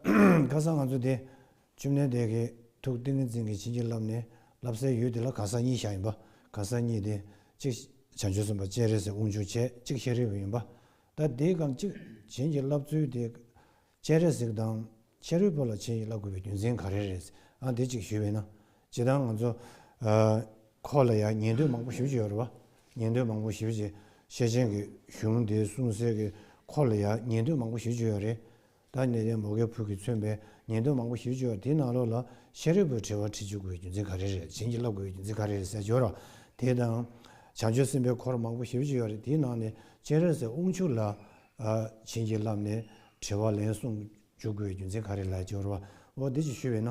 ཁ་སང་ང་ཚོ་དེ་བཅོམ་ལྡན་འདས་ཀྱི་ཐུགས་ཏིང་ངེ་འཛིན་གྱིས་བྱིན་གྱིས་བརླབས་ནས་བསླབ་སའི་ཡུལ་དེ་ལ་གང་ཟག་གཉིས་བཞག་ཡིན་པ་གང་ཟག་གཉིས་དེ་གཅིག་བྱང་ཆུབ་སེམས་དཔའ་སྤྱན་རས་གཟིགས་དབང་ཕྱུག་ཆེ་གཅིག་ཤཱ་རིའི་བུ་ཡིན་པ། ད་དེ་གང་གཅིག་བྱིན་གྱིས་བརླབས་ཚུལ་དེ་སྤྱན་རས་གཟིགས་དང་ཤཱ་རིའི་བུ་ལ་བྱིན་གྱིས་བརླབ་དགོས་པའི་རྒྱུ་མཚན་ག་རེ་རེད་ཨང་དེ་གཅིག་ཞུས་བས་ན་ཇི་ལྟར་ང་ཚོ་ཁོ་ལ་ཡང་ཉན་ཐོས་མང་པོ་ཞུ་བྱེད་ཡོད་རེད་བ། ཉན་ཐོས་མང་པོ་ཞུ་བྱེད་ཤེས་ཅན་གྱི་གཞུང་དེ་གསུང་གསལ་གྱི་ཁོ་ལ་ཡང་ཉན་ཐོས་མང་པོ་ཞུ་བྱེད་ཡོད་རེད། ད་ནས་བརྟན་པོ་ཁའི་ཕུག་གིས་མཚོན་པའི་ཉེས་དོན་མང་པོ་ཞིབ་བརྗོད་དེའི་ནང་ལོགས་ལ་ཤེས་རིག་པོའི་དྲི་བར་དྲིས་འཇུག་དགོས་པའི་རྒྱུ་མཚན་ག་རེ་རེད་བྱིན་གྱིས་བརླབ་དགོས་པའི་རྒྱུ་མཚན་ག་རེ་རེད་ཟེར་བྱོས་རོགས། དེ་དང། བྱང་ཆུབ་སེམས་དཔའི་འཁོར་མང་པོ་ཞིབ་བརྗོད་ཡོད་རེད་དེའི་ནང་ནས་སྤྱན་རས་གཟིགས་དབུ་ཕྱུག་ལ། བྱིན་གྱིས་བརླབས་ནས་དྲི་བར་ལན་གསུངས་འཇུག་དགོས་པའི་རྒྱུ་མཚན་ག་རེ་ལ་བྱོས་རོགས་འོ་དེ་ཅིག་ཞུས་པས་ན།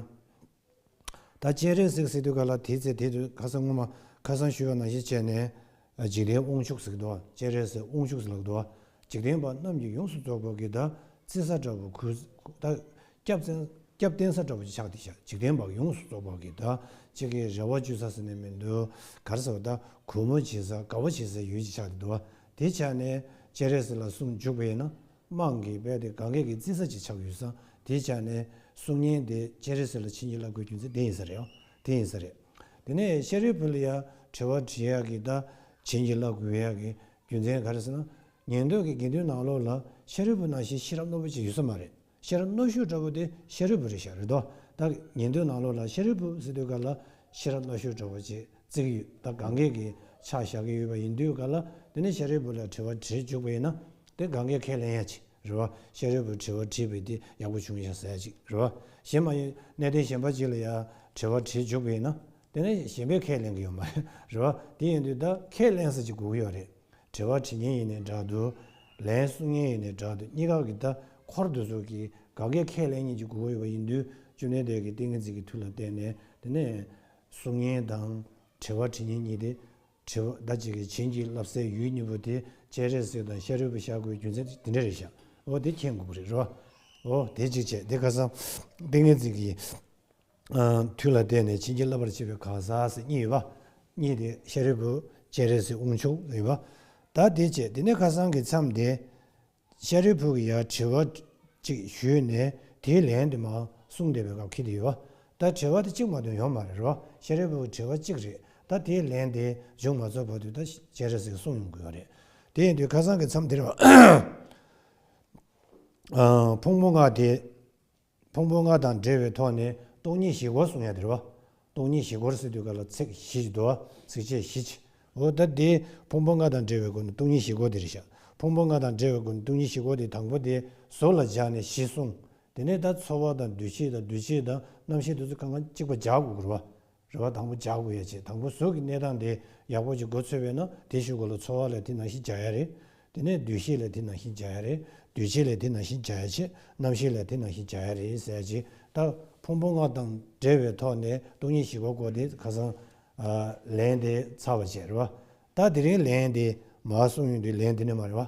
ད་སྤྱན་རས་གཟིགས་གཟིགས་དུས་ག་ལ་དེའི་ཚེ་དེ་དུས་ཁ་སང་སྔོན་མ་ཁ་སང་ཤུལ་བ་ནང་བཞིན་བྱས་ནས། འཇིག་རྟེན་དབང་ཕྱུག་གཟིགས་འདུག་སྤྱན་རས་གཟིགས་དབང་ཕྱུག་ལགས་འདུག་འཇིག་རྟེན་པ་རྣམས་ཀྱིས་ཡོངས་སུ་རྫོགས་པར་གྱིས་ད་བཙན་ས་འདྲ་བོ་གུས། ད་སྐྱབས་བཙན་སྐྱབས་བསྟེན་ས་འདྲ་བོ་ཅིག་ཆགས་ཏེ་འཇིག་རྟེན་པ་ཡོངས་སུ་རྫོགས་པར་གྱིས་ད་ཅི་གི་རེ་བ་བཅོལ་ས་ཟེར་ནས་མི་འདུག་གར་ཟེར་བ་ད་གུས་མོ་བྱེད་ས་དགའ་བོ་བྱེད་སའི་ཡུལ་ཅིག་ཆགས་ཏེ་འདུག་དེ་ཆགས་ནས་སྤྱན་རས་གཟིགས་ལ་གསུང་འཇུག་པ་ཡིན་ན་དམངས་ཀྱི་དཔལ་དེ་གངྒཱའི་ཀི་རྩི་ས་ཅིག་ཆགས་ཡོད་ས་དེའི་ཆ་ནས་གསུང་ཉིན་དེ་སྤྱན་རས་གཟིགས་ལ་ཕྱི་ཉིན་བླ་དགོས་རྒྱུ་མཚན་དེ་ཡིན་ས་རེད། དེ་ཡིན་ས་རེད། དེ་ནས་ཤཱ་རིའི་བུ་ལ་ཡ་བྲེལ་བ་དྲི་ཡག་གི་ད་བྱིན་གྱིས་བླ་དགོས་ཡག་གི་རྒྱུ་མཚན་ག་རེད་ཟེར་ན། ཉན་ཐོས་ཀྱི་དགེ་འདུན་ནང་ལོགས་ལ་ཤཱ་རིའི་བུ་ནང་བཞིན་ཤེས་རབ་རྣོ་པོ་ཅིག་ཡོད་ས་མ་རེད། ཤེས་རབ་རྣོ་ཤོས་འདྲ་བོ་དེ་ཤཱ་རིའི་བུ་རེད་ཤག་རེད་དོ། ད་ཉན་ཐོས་ནང་ལོགས་ལ་ཤཱ་རིའི་བུ་སི་ཏུ་ཀ་ལ་ཤེས་རབ་རྣོ་ཤོས་འདྲ་བོ་ཅིག་བརྩིགས་ཡོད། ད་གང་གཱའི་གི་ཕྱག་བཞག་གི་ཡོད་པ་ཡིན་དུས་ག་ལ། དེ་ནས་ཤཱ་རིའི་བུ་ལ་དྲི་བ་དྲིས་བཅུག་པ་ཡིན་ན། དེ་གང་གཱའི་ཁས་ལེན་ཡ་ཅིག་རེད་བ། ཤཱ་རིའི་བུ་དྲི་བ་དྲིས་པས་དེ་ཡག་པོ་བྱུང་ཡ་ཟ་ཡ་ཅིག་རེད་བ། གཞན་མ་ཡིན་གནས་བརྟན་གཞན་པ་ཅིག་ལ་ཡ་དྲི་བ་དྲིས་བཅུག་པ་ཡིན་ན། དེ་ནས་གཞན་པས་ཁས་ལེན་གི་ཡོད་མ་རེད་བ། དེ་ཡིན་དུས་ད་ཁས་ལེན་ས་ཅིག་སྒུག་གི་ཡོད་རེད། དྲི་བ་དྲི་ཉན་ཡིན་ནའི་འདྲ་འདུག། ལན་གསུང་ཉན་ཡིན་ནའི་འདྲ་འདུག་གཉིས་ཀ་གི་ད་འཁོར་འདུག་ཟུར་གི་གང་གཱའི་ཁས་ལེན་གཉིས་ཀྱི་སྒུག་གི་ཡོད་པ་ཡིན་དུས་བཅུ་གནས་བརྟན་གི་ཏིང་ངེ་འཛིན་གྱི་མཐུ་ལ་བརྟེན་ནས་དེ་ནས། གཟུགས་བརྙན་དང། དྲི་བ་དྲི་ཉན་གཉིས་ཏེ། དྲི་བ། ཟླ་གཅིག་གི་བྱིན་གྱིས་བརླབས་སའི་ཡུལ་གཉིས་པོ་དེ་སྤྱན་རས་གཟིགས་དང་ཤ་རུས་པ་ཤར་སྒོའི་རྒྱུ་མཚན་དེ་འདྲ་རེད་བཞག་ཨོ་དེ་ཁྱེད་འགུག་རེད་རོ། ཨོ་དེ་གཅིག་བྱས་དེ་ཁ་སང། ཏིང་ངེ་འཛིན་གྱི། མཐུ་ལ་བརྟེན་ནས་བྱིན་གྱིས་བརླབས་པར་བྱེད་པའི་གང་ཟག་ཟེར་གཉིས་ཡོད་པ། གཉིས་དེ་ཤ་རུས་པོ་སྤྱན་རས་གཟིགས་དབང་ཕྱུག་ཡིན་པ། ད་དེ་བྱས་དེ་ནས་ཁ་སང་གི་མཚམས་དེ། ཤཱ་རིའི་བུ་གི་ཡ་བྲི་བ་ཅིག་ཞུས་ནས་དེའི་ལན་དུ་མ་གསུངས་བསྡད་པའི་སྐབས་ཁྱེད་ཡོད། ད་བྲི་བ་དེ་གཅིག་མ་དོན་ཡོང་མ་རེད་རོགས་ཤཱ་རིའི་བུ་གི་བྲི་བ་གཅིག་རེད་ད་དེའི་ལན་དེ་མཇུག་མ་རྫོགས་བར་དུ་ད་བྱས་རེད་ཟེར་གསུངས་ཡོང་གི་ཡོད་རེད། དེ་ཡིན་དུས་ཁ་སང་གི་མཚམས་དེར་བ་ཕུང་པོ་ལྔ་དེ། ཕུང་པོ་ལྔ་དང་འབྲེལ་བའི་ཐོག་ནས་སྟོང་ཉིད་བཞི་སྐོར་གསུངས་ཡང་དེར་བ། སྟོང་ཉིད་བཞི་སྐོར་ཟེར་དུས་ག་ལ་ཚེགས་བཞི་ཅིག་དུ་བ་ཚིགས་བཅད་བཞི་ཅིག་གོ། ད་དེ་ཕུང་པོ་ལྔ་དང་འབྲེལ་བའི་སྒོ་ནས་སྟོང་ཉིད་བཞི་སྐོར་དེ་རེད་བཞག་ཕུང་པོ་ལྔ་དང་འབྲེལ་བའི་སྒོ་ནས་སྟོང་ཉིད་བཞི་སྐོར་དེ་དང་པོ་དེ་གཟུགས་ལ་སྦྱར་ནས་བཞི་གསུངས། དེ་ནས་ད་འཚོ་བ་དང་འདུ་བྱེད་དང་འདུ་བྱེད་དང་རྣམ་ཤེས་དེ་ཚོ་གང་གང་གཅིག་པ་བརྒྱ་དགུ་སྐོར་བ། རེ་བ་དང་པོ་བྱ་དགོས་ཡ་བྱས་དང་པོ་ཟོག་གི་གནས་སྟངས་དེ་ཡག་པོ་ཅིག་མགོ་ཚོས་པས་ན་དེ་ཞུ་དགོས་ལ་འཚོ་བ་ལས་དེ་ནང་བཞིན་བྱ་ཡ་རེད། དེ་ནས་སྡོད་ཤེས་ལས་དེ་ནང་བཞིན་བྱ་ཡ་རེད། སྡོད་བྱེད་ལས་དེ་ནང་བཞིན་བྱ་ཡ་བྱས། རྣམ་ཤེས་ལས་དེ་ནང་བཞིན་བྱ་ཡ་རེད་ཟེར་ཡ་བྱས་ད། ཕུང་པོ་ལྔ་དང་བྲལ་བའི་ཐོག་ནས་སྟོང་ཉིད་ཞི་བ་སྐོར་དེ་ཁ་སང། ལན་དེ་ཚར་བ་བྱས་རེད་བ། ད་དེ་རིང་ལན་དེ་མ་གསུངས་ཡོང་དུས་ལན་དེ་ནས་མ་རེད་བ།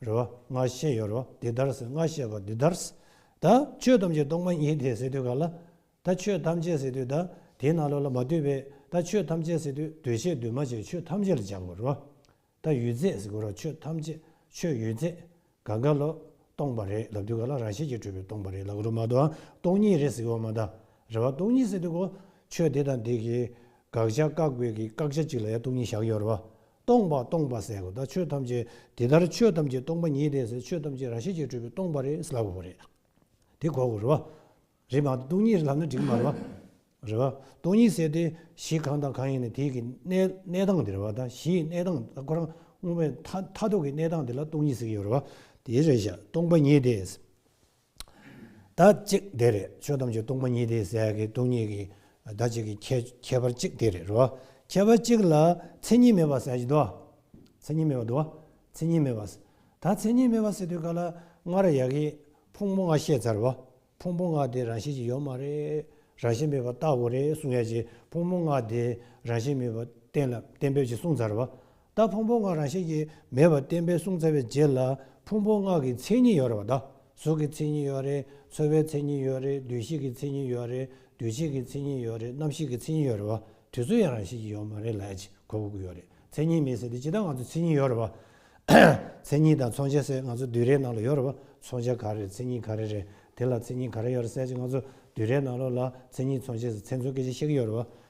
རེ་བ་སྔར་བཤད་ཡོད་རོ། འདི་ལྟར་སྔར་བཤད་པ་འདི་ལྟར། ད་ཆོས་ཐམས་ཅད་སྟོང་པ་ཉིད་དེ་ཟེར་དུས་ག་ལ། ད་ཆོས་ཐམས་ཅད་ཟེར་དུས་ད་དེའི་ནང་ལོགས་ལ་མ་ལྟོས་པས་ད་ཆོས་ཐམས་ཅད་ཟེར་དུས་འདོད་བྱའི་འདུས་མ་བྱས་ཆོས་ཐམས་ཅད་ལ་སྦྱར་དགོས་རོ། ད་ཡུལ་རྫས་ཟེར་དགོས་རོགས་ཆོས་ཐམས་ཅད་ཆོས་ཡུལ་རྫས། ག་ག་ལོ། སྟོང་པ་རེད་ལབ་དུས་ག་ལ་རང་བཞིན་གྱིས་གྲུབ་པའི་སྟོང་པ་རེད་ལབ་དགོས་རོགས་མ་དོའང་སྟོང་ཉིད་རེད་ཟེར་དགོས་བ་མ་ད། རེ་བ་སྟོང་ཉིད་ཟེར་དུས་གོ། ཆོས་དེ་དང་དེ་གིས་དགག་བྱ་བཀག་དགོས་ཀྱི་བཀག་བྱ་གཅིག་ལ་ཡང་སྟོང་ཉིད་བཞག་ཡོད་རོ། སྟོང་པ་སྟོང་པ་ཟེར་གོ་ད་ཆོས་ཐམས་ཅད་དེ་ལྟར་ཆོས་ཐམས་ཅད་སྟོང་པ་ཉིད་དེ་ཟེར་ཆོས་ཐམས་ཅད་རང་བཞིན་གྱིས་སྤྲོས་པའི་སྟོང་པ་རེད་ལབ་དགོས་རེད། དེ་གོ་དགོས་རེད་བ། རེད་མ་གཏོགས་སྟོང་ཉིད་ལབ་ན་འགྲིག་མ་རེད་བ། རེད་བ། སྟོང་ཉིད་ཟེར་དེ་གཞི་གང་དང་གང་ཡིན་ནི་དེ་གི་གནས་གནས་སྟངས་དེ་རེད་བ་ད་གཞི་ཡི་གནས་སྟངས་ད་ཁོ་རང་སྔོན་མའི་མཐའ་མཐའ་ཐོག་གི་གནས་སྟངས་དེ་ལ་སྟོང་ཉིད་ཟེར་གྱི་ཡོད་རེད་བ། དེ་རེད་བཞག་སྟོང་པ་ཉིད་དེ། བདག་གཅིག་དེ་རེད་ཆོས་ཐམས་ཅད་སྟོང་པ་ཉིད་དེའི་ཟད་ཀྱི་སྟོང་ཉིད་ཀྱི་བདག་གཅིག་གི་ཁྱད་པར་གཅིག་དེ་རེད་རོ། ཁྱད་པར་གཅིག་ལ་མཚན་ཉིད་མེད་པར་ཟད་ཀྱི་དོ། མཚན་ཉིད་མེད་པར་དོ། མཚན་ཉིད་མེད་པར་ཟད། ད་མཚན་ཉིད་མེད་པར་ཟད་དུས་ག་ལ་སྔར་ཡག་གི་ཕུང་པོ་ལྔ་བཤད་ཚར་བ། ཕུང་པོ་ལྔ་དེ་རང་བཞིན་གྱིས་ཡོད་མ་རེད། རང་བཞིན་མེད་པར་བརྟག་དགོས་རེད་གསུང་ཡ་གྱི་ཕུང་པོ་ལྔ་དེ་རང་བཞིན་མེད་པར་གཏན་ལ་གཏན་འབེབས་ཀྱིས་གསུང་ཚར་བ། ད་ཕུང་པོ་སྔགས་རང་བཞིན་གྱིས་མེད་པར་བསྟན་པས་གསུངས་ཚར་བའི་རྗེས་ལ་ཕུང་པོ་སྔགས་ཀྱི་མཚན་ཉིད་ཡོད་རེད་བ་དང་གཟུགས་ཀྱི་མཚན་ཉིད་ཡོད་རེད་ཚོར་བའི་མཚན་ཉིད་ཡོད་རེད་འདུ་ཤེས་ཀྱི་མཚན་ཉིད་ཡོད་རེད་འདུ་བྱེད་ཀྱི་མཚན་ཉིད་ཡོད་རེད་རྣམ་ཤེས་ཀྱི་མཚན་ཉིད་ཡོད་རེད་བ་དུས་ཚོད་ཡང་རང་བཞིན་གྱིས་ཡོད་མ་རེད་ལ་ཅི་གོ་གི་ཡོད་རེད་མཚན་ཉིད་མེད་ཟེར་དུས་ཇི་ལྟར་ང་ཚོ་མཚན་ཉིད་ཡོད་རེད་བ། མཚན་ཉིད་དང་མཚོན་བྱ་ཟེར་ང་ཚོ་དུས་རའི་ནང་ལ་ཡོད་རེད་བ་མཚོན་བྱ་ག་རེ་རེད་མཚན་ཉིད་ག་རེ་རེད་དེ་ལ་མཚན་ཉིད་ག་རེ་ཡོད་རེད་ཟེར་ཅིག་ང་ཚོ་དུས་རའི་ནང་ལོགས་ལ་མཚན་ཉིད་མཚོན་བྱེད་ཟེར་མཚན་མཚོན་སྐད་ཆ་བཤད་ཀྱི་ཡོད་རེད་བ།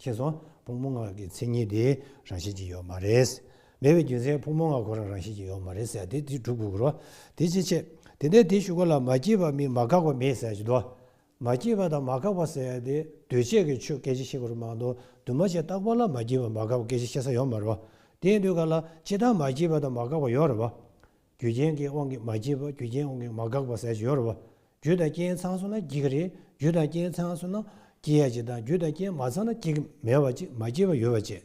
ཁྱེད་ཚོ་ཕུགས་མོ་ངག་གི་མཚན་ཉིད་དེ་རང་བཞིན་གྱིས་ཡོད་མ་རེད། མེད་པའི་རྒྱུ་མཚན་ཕུགས་མོ་ངག་ཁོ་རང་རང་བཞིན་གྱིས་ཡོད་མ་རེད་ཟེར་དེ་དེ་གྲུབ་དགོས་ཀྱི་རོ། དེ་ཅི་ཆེ། དེ་ནས་དེ་ཞུ་གོ་ལ་མ་སྐྱེས་པ་མིན་མ་འགགས་པ་མེད་ཟེར་གྱི་འདུག་མ་སྐྱེས་པ་དང་མ་འགགས་པ་ཟེར་དེ་གདོས་བཅས་ཀྱི་ཆོས་སྐད་ཅིག་ཤེས་གི་རུ་མང་དུ་འདུས་མ་བྱས་རྟག་པ་ལ་མ་སྐྱེས་པ་མ་འགགས་པ་སྐད་ཅིག་ཤེས་ས་ཡོད་མ་རུ། དེ་འདོད་ག་ལ་ཅི་ལྟར་མ་སྐྱེས་པ་དང་མ་འགགས་པ་ཡོད་རུ་བ། རྒྱུ་རྐྱེན་གྱི་དབང་གིས་མ་སྐྱེས་པ་རྒྱུ་རྐྱེན་དབང་གིས་མ་འགགས་པ་ཟས་སྦྱོར་བ། རྒྱུ་དང་རྐྱེན་ཚང་སོང་ན་སྐྱེ་གི་རེད་རྒྱུ་དང་རྐྱེན་ཚང་སོང་ན་སྐྱེ་ཡ་གཅིག་དང་རྒྱུ་དང་རྐྱེན་མ་ཚང་ན་སྐྱེ་གི་མེད་བ་གཅིག་མ་སྐྱེས་པ་ཡོད་བ་བཅས།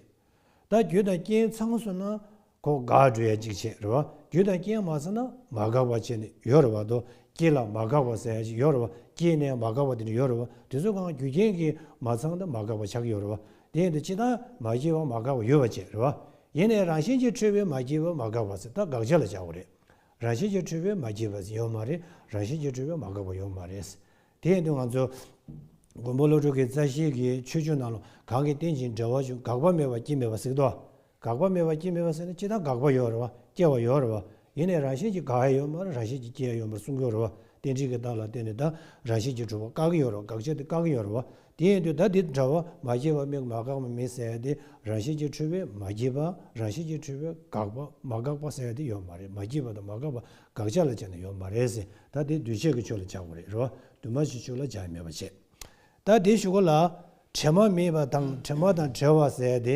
ད་རྒྱུ་དང་རྐྱེན་ཚང་སོང་ན་གོ་འགག་འགྲོ་ཡ་གཅིག་བྱེད་རེད་བ་རྒྱུ་དང་རྐྱེན་མ་ཚང་ན་མ་འགགས་པ་བཅས་ནི་ཡོད་རེད་བ་དོ་སྐྱེས་ལ་མ་འགགས་པ་ཟས་ཞིག་ཡོད་རེད་བ་སྐྱེས་ནས་མ་འགགས་པ་དེ་འདྲ་ཡོད་རེད་བ་དེ་ཚོ་གང་རྒྱུ་རྐྱེན་གྱིས་མ་ཚང་ད་མ་འགགས་པ་ཆགས་ཀྱི་ཡོད་རེད་བ་དེ་ཡིན་དུ་ཅི་ལྟར་མ་སྐྱེས་པ་མ་འགགས་པ་ཡོད་པ་བཅས་རེད་བ། ཡེ་ནས་རང་བཞིན་གྱིས་འཁྲུལ་བས་མ་སྐྱེས་པ་མ་འགགས་པ་ཚོད་ལྟ་དགག་བྱ་ལ་བྱ་བ་རེད། རང་བཞིན་གྱིས་འཁྲུལ་བས་མ་སྐྱེས་པ་ཡོད་མ་རེད་རང་བཞིན་གྱིས་འཁྲུལ་བས་མ་འགགས་པ་ཡོད་མ་རེད། དེ་ཡིན་དུ་ང་ཚོ། མགོན་པོ་བློ་གྲོས་ཀྱི་རྩ་ཤེས་ཀྱི་ཆོས་བཅུ་རྣམས་ལ་གང་གིས་རྟེན་ཅིང་འབྲེལ་བ་བཅུ་འགགས་པ་མེད་པར་སྐྱེ་མེད་པར་གཟིགས་ཏོ། དགག་པ་མེད་པ་ཅི་མེད་པ་ཟེར་ན་ཅི་ལྟར་དགག་པ་ཡོད་རེད་བ་སྐྱེ་བ་ཡོད་རེད་བ། ཡིན་ནས་རང་བཞིན་གྱིས་དགག་ཡས་ཡོད་མ་རེད་རང་བཞིན་གྱིས་སྐྱེ་ཡས་ཡོད་མ་རེད་གསུང་གི་ཡོད་རེད་བ། གཏན་ཚིགས་ཀྱི་རྟགས་ལ་བརྟེན་ནས་བདག་རང་བཞིན་གྱིས་གྲུབ་པ་བཀག་གི་ཡོད་རེད་བ་དགག་བྱ་དེ་བཀག་གི་ཡོད་རེད་བ། དེ་ཡིན་དུས་བདག་དེ་འདྲ་བ་མ་སྐྱེས་པ་མིག་མ་འགགས་པ་མི་ཟེར་ཏེ་རང་བཞིན་གྱིས་འཁྲུལ་པས་མ་སྐྱེས་པ་རང་བཞིན་གྱིས་འཁྲུལ་པས་དགག་པ་མ་འགགས་པ་ཟེར་དེ་ཡོད་མ་རེད་མ་སྐྱེས་པ་དང་མ་འགགས་པ་དགག་བྱ་ལ་བྱས་ན་ཡོད་མ་རེད་ཟེར་ད་དེ་འདུས་བྱས་ཀྱི་ཆོས་ལ་བྱ་བ་རེད་རེད་བ་འདུས་མ་བྱས་ཆོས་ལ་བྱ་ཡས་མེད་པ་བྱས། ད་དེ་ཞུ་ག་ལ། དྲི་མ་མེད་པ་དང་དྲི་མ་དང་བྲལ་བ་ཟེར་ཏེ་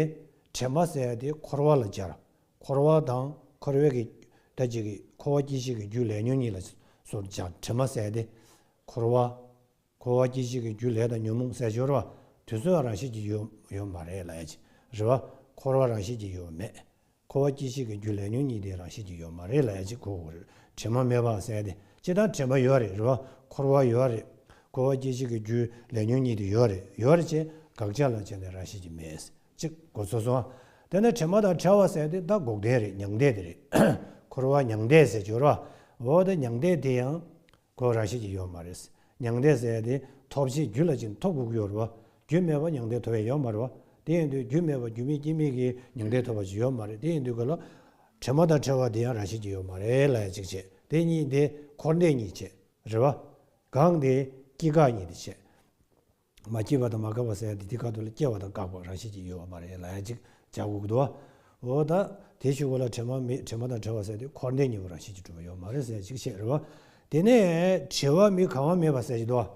དྲན་པ་བསལ་ཏེ་འཁོར་བ་ལ་སྦྱར། འཁོར་བ་དང་འཁོར་བའི་གེགས་བསྒྲལ་བྱེད་ཀྱི་འཁོར་བ་སྐྱེ་ཤི་གི་རྒྱུ་ལས་ཉོན་གཉིས་ལ་སོར་སྦྱར་དྲན་པ་བསལ་ཏེ། འཁོར་བ། འཁོར་བ་སྐྱེ་ཤི་གི་རྒྱུ་ལས་དང་ཉོན་མོངས་ཟད་སྦྱོར་བ། དུས་ཚོད་རང་བཞིན་གྱིས་ཡོད་མ་རེད་ལ་ཨེ། རེ་བ། འཁོར་བ་རང་བཞིན་གྱིས་ཡོད་མེད། འཁོར་བ་སྐྱེ་ཤི་གི་རྒྱུ་ལས་ཉོན་གཉིས་དེ་རང་བཞིན་གྱིས་ཡོད་མ་རེད་ལ་ཨེ་ཁོ་བོ། དྲན་པ་མེད་པ་བསལ་ཏེ་ཅི་ལྟར་དྲན་པ་ཡོད་རེད་རེ་བ། འཁོར་བ་ཡོད་རེད། འཁོར་བ་སྐྱེ་ཤི་གི་རྒྱུ་ལས་ཉོན་གཉིས་དེ་ཡོད་རེད་ཡོད་རེད་ཅེས་དགག་བྱ་ལ་བྱས་ནས་རང་བཞིན་གྱིས་མེད། ཅིག་གོ་ཚོར་སོང། དེ་ནི་དྲི་མ་དང་ཕྲ་བ་ཟད་དེ་བདག་འགོག་བདེན་རེད་མྱང་འདས་དེ་རེད། འཁོར་བ་མྱང་འདས་ཟད་སྦྱོར་བ་འོག་ཏུ་མྱང་འདས་དེ་ཡང། གོ་ར་ཤེས་ཀྱི་ཡོད་མ་རེད། མྱང་འདས་ཟད་དེ་ཐོབ་བྱའི་རྒྱུ་ལ་ཅི་འཐོབ་དགོས་ཀྱི་ཡོད་རེད། རྒྱུ་མེད་པར་མྱང་འདས་ཐོབ་ཡ་ཡོད་མ་རེད། དེ་ཡིན་དུས་རྒྱུ་མེད་པར་རྒྱུ་མེད་རྐྱེན་མེད་ཀྱི་མྱང་འདས་ཐོབ་པ་ཅི་ཡོད་མ་རེད་དེ་ཡིན་དུས་གོ་ལ། དྲི་མ་དང་ཕྲ་བ་དེ་ཡང་ར་ཤེས་ཀྱི་ཡོད་མ་རེད་ལ་ཡང་ཅིག་བྱེད་དེ་གཉིས་དེ་འཁོར་འདས་གཉིས་བྱེད་རེད་བ། གང་དེ་སྐྱེ་འགག་གཉིས་དེ་བྱེད། མ་སྐྱེས་པ་དང་མ་བཀག་པ་སེམས་དེ་དེ་ཁ་དོག་ལ་སྐྱེ་བ་དང་བཀག་པ་རང་བཞིན་གྱིས་ཡོད་པ་མ་རེད་ལ་ཡང་ཅིག་ཅར་འགུགས་འདུག་འོ་ད། དེ་ཤི་བོ་ལ་དྲི་མ་མེད་དྲི་མ་དང་བྲལ་བ་སེམས་དེ་འཁོར་འདས་གཉིས་པོ་རང་བཞིན་གྱིས་གྲུབ་པ་ཡོད་མ་རེད་སེམས་ཅིག་ཤེས་རེད་བ། དེ་ནས། དྲི་བ་མི་གང་བ་མེད་པ་སེམས་ཅིག་འདུག་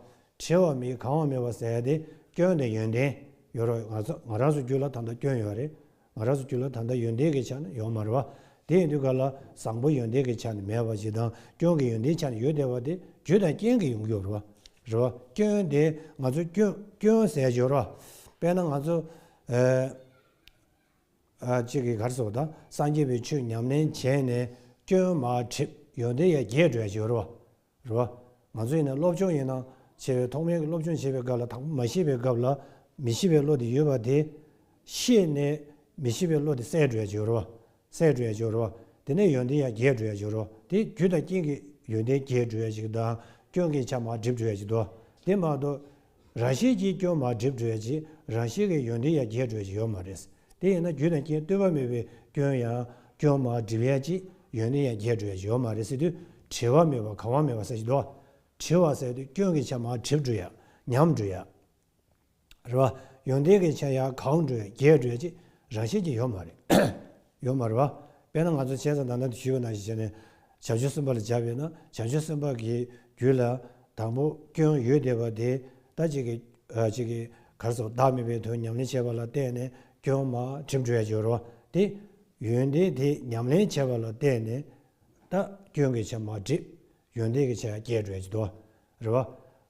དྲི་བ་མི་གང་བ་མེད་པ་སེམས་དེ་སྐྱོན་དང་ཡོན་ཏན། ཡོད་རོགས་ང་རང་སུ་རྒྱུ་ལ་ད་ལྟ་སྐྱོན་ཡོད་རེད། ང་རགས་སུ་བསྐྱུར་ལ་ད་ལྟ་ཡོན་ཏན་གྱི་ཆ་ནི་ཡོང་མ་རེད་བ། དེ་ཡིན་དུས་ག་ལ་བཟང་པོ་ཡོན་ཏན་གྱི་ཆ་ནི་མེད་བ་ཞིག་དང་སྐྱོན་གྱི་ཡོན་ཏན་ཆ་ནི་ཡོད་བསྡད་པ་དེ་རྒྱུ་དང་རྐྱེན་གྱིས་ཡོང་རྒྱུ་རེད་བ། རེད་བ། སྐྱོན་དེ་ང་ཚོ་སྐྱོན། སྐྱོན་ཟས་སྦྱོར་བ། དཔེར་ན་ང་ཚོ། གཅིག་གིས་གར་སོགས་དང་སངས་རྒྱས་པའི་ཆོས་ཉམས་ལེན་བྱས་ནས་སྐྱོན་མ་ཁྲིད་ཡོན་ཏན་ཡར་རྒྱས་འགྲོ་ཡ་སྦྱོར་བ། རེད། ང་ཚོ་ཡིན་ན་སློབ་ཆུང་ཡིན་ན་བྱས་པའི་ཐོག་མའི་སློབ་ཆུང་བྱེད་པའི་སྐབས་ལ་དང་པོ་མ་ཤེས་པའི་སྐབས་ལ་མི་ཤེས་པའི་བློ་དེ་ཡོད་པ་དེ། ཤེས་ནས་མི་ཤེས་པའི་བློ་དེ་སད་འགྲོ་ཡ་འགྱུར་རོ། སད་འགྲོ་ཡ་འགྱུར་རོ། དེ་ནས་ཡོན་ཏན་ཡང་རྒྱས་འགྲོ་ཡ་འགྱུར་རོ། དེ་རྒྱུ་དང་རྐྱེན་གྱིས་ཡོན་ཏན་རྒྱས་འགྲོ་ཡ་ཅིག་དང་སྐྱོན་གྱིས་ཆ་མ་སྒྲིབ་འགྲོ་ཡ་ཅིག་ཏུ། དེ་མ་གཏོགས་ར་ཤེལ་གྱིས་སྐྱོན་མ་བསྒྲིབས་བགྲོད་རྗེས་ར་ཤེལ་གྱི་ཡོན་ཏན་ཡར་རྒྱས་བགྲོད་ཀྱི་ཡོད་མ་རེད། དེ་ཡིན་ན་རྒྱུ་དང་རྐྱེན་ལྟོས་པ་མེད་པའི་སྐྱོན་ཡང་སྐྱོན་མ་བསྒྲིབས་ཡར་རྒྱས་ཡོན་ཏན་ཡར་རྒྱས་བགྲོད་ཀྱི་ཡོད་མ་རེད་ཟེར་དུས་དྲི་བ་མེད་པར་གང་བ་མེད་པར་ཟེར་གྱི་འདུག་དྲི་བ་ཟེར་དུས་སྐྱོན་གྱི་ཆ་མ་བསྒྲིབས་བགྲོད་ཡག་ཉམས་བགྲོད་ཡག་རེད། ཡོན་ཏན་གྱི་ཆ་ཡར་གང་བགྲོད་རྒྱས་བགྲོད་ཅེས་ར་ཤེལ་གྱི་ཡོད་མ་རེད། ཡོད་མ་རེད་བ། དཔེར་ན་ང་ཚོ་བྱས་ཙང་ད་ནང་དུ་ཞུས་པ་ན་ཞེས་བྱས་ནས། བྱང་ཆུབ་སེམས་དཔའ་ལ་སྦྱར་བས་ན་བྱང་ཆུབ་སེམས་དཔའ་གྱི་རྒྱུད་ལ། དང་པོ་སྐྱོན་ཡོད་དེ་བ་དེ་ལྟ་ཅིག་གི། ཅིག་གི། གར་སོགས་བདག་མེད་པའི་དོན་ཉམས་ལེན་བྱེད་པ་ལ་བརྟེན་ནས་སྐྱོན་མ་ཁྲིམས་གྲོལ་བའི་སྦྱོར་བ་སྟེ། ཡོན་ཏན་དེ་ཉམས་ལེན་བྱེད་པ་ལ་བརྟེན་ནས། ལྟ་སྐྱོན་གྱི་ཆ་མ་བསྒྲིབས། ཡོན་ཏན་གྱི་ཆ་སྐྱེད་གྲོལ་གྱི་དོ། རེད་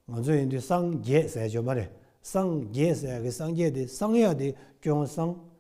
བ། ང་ཚོ་ཡིན་དུས་སངས་རྒྱས་ཟས་སྦྱོར་མ་རེད། སངས་རྒྱས་ཟས་ཀྱི་སངས་རྒྱས་དེ་སངས་ཡག་དེ་སྐྱོན་སངས་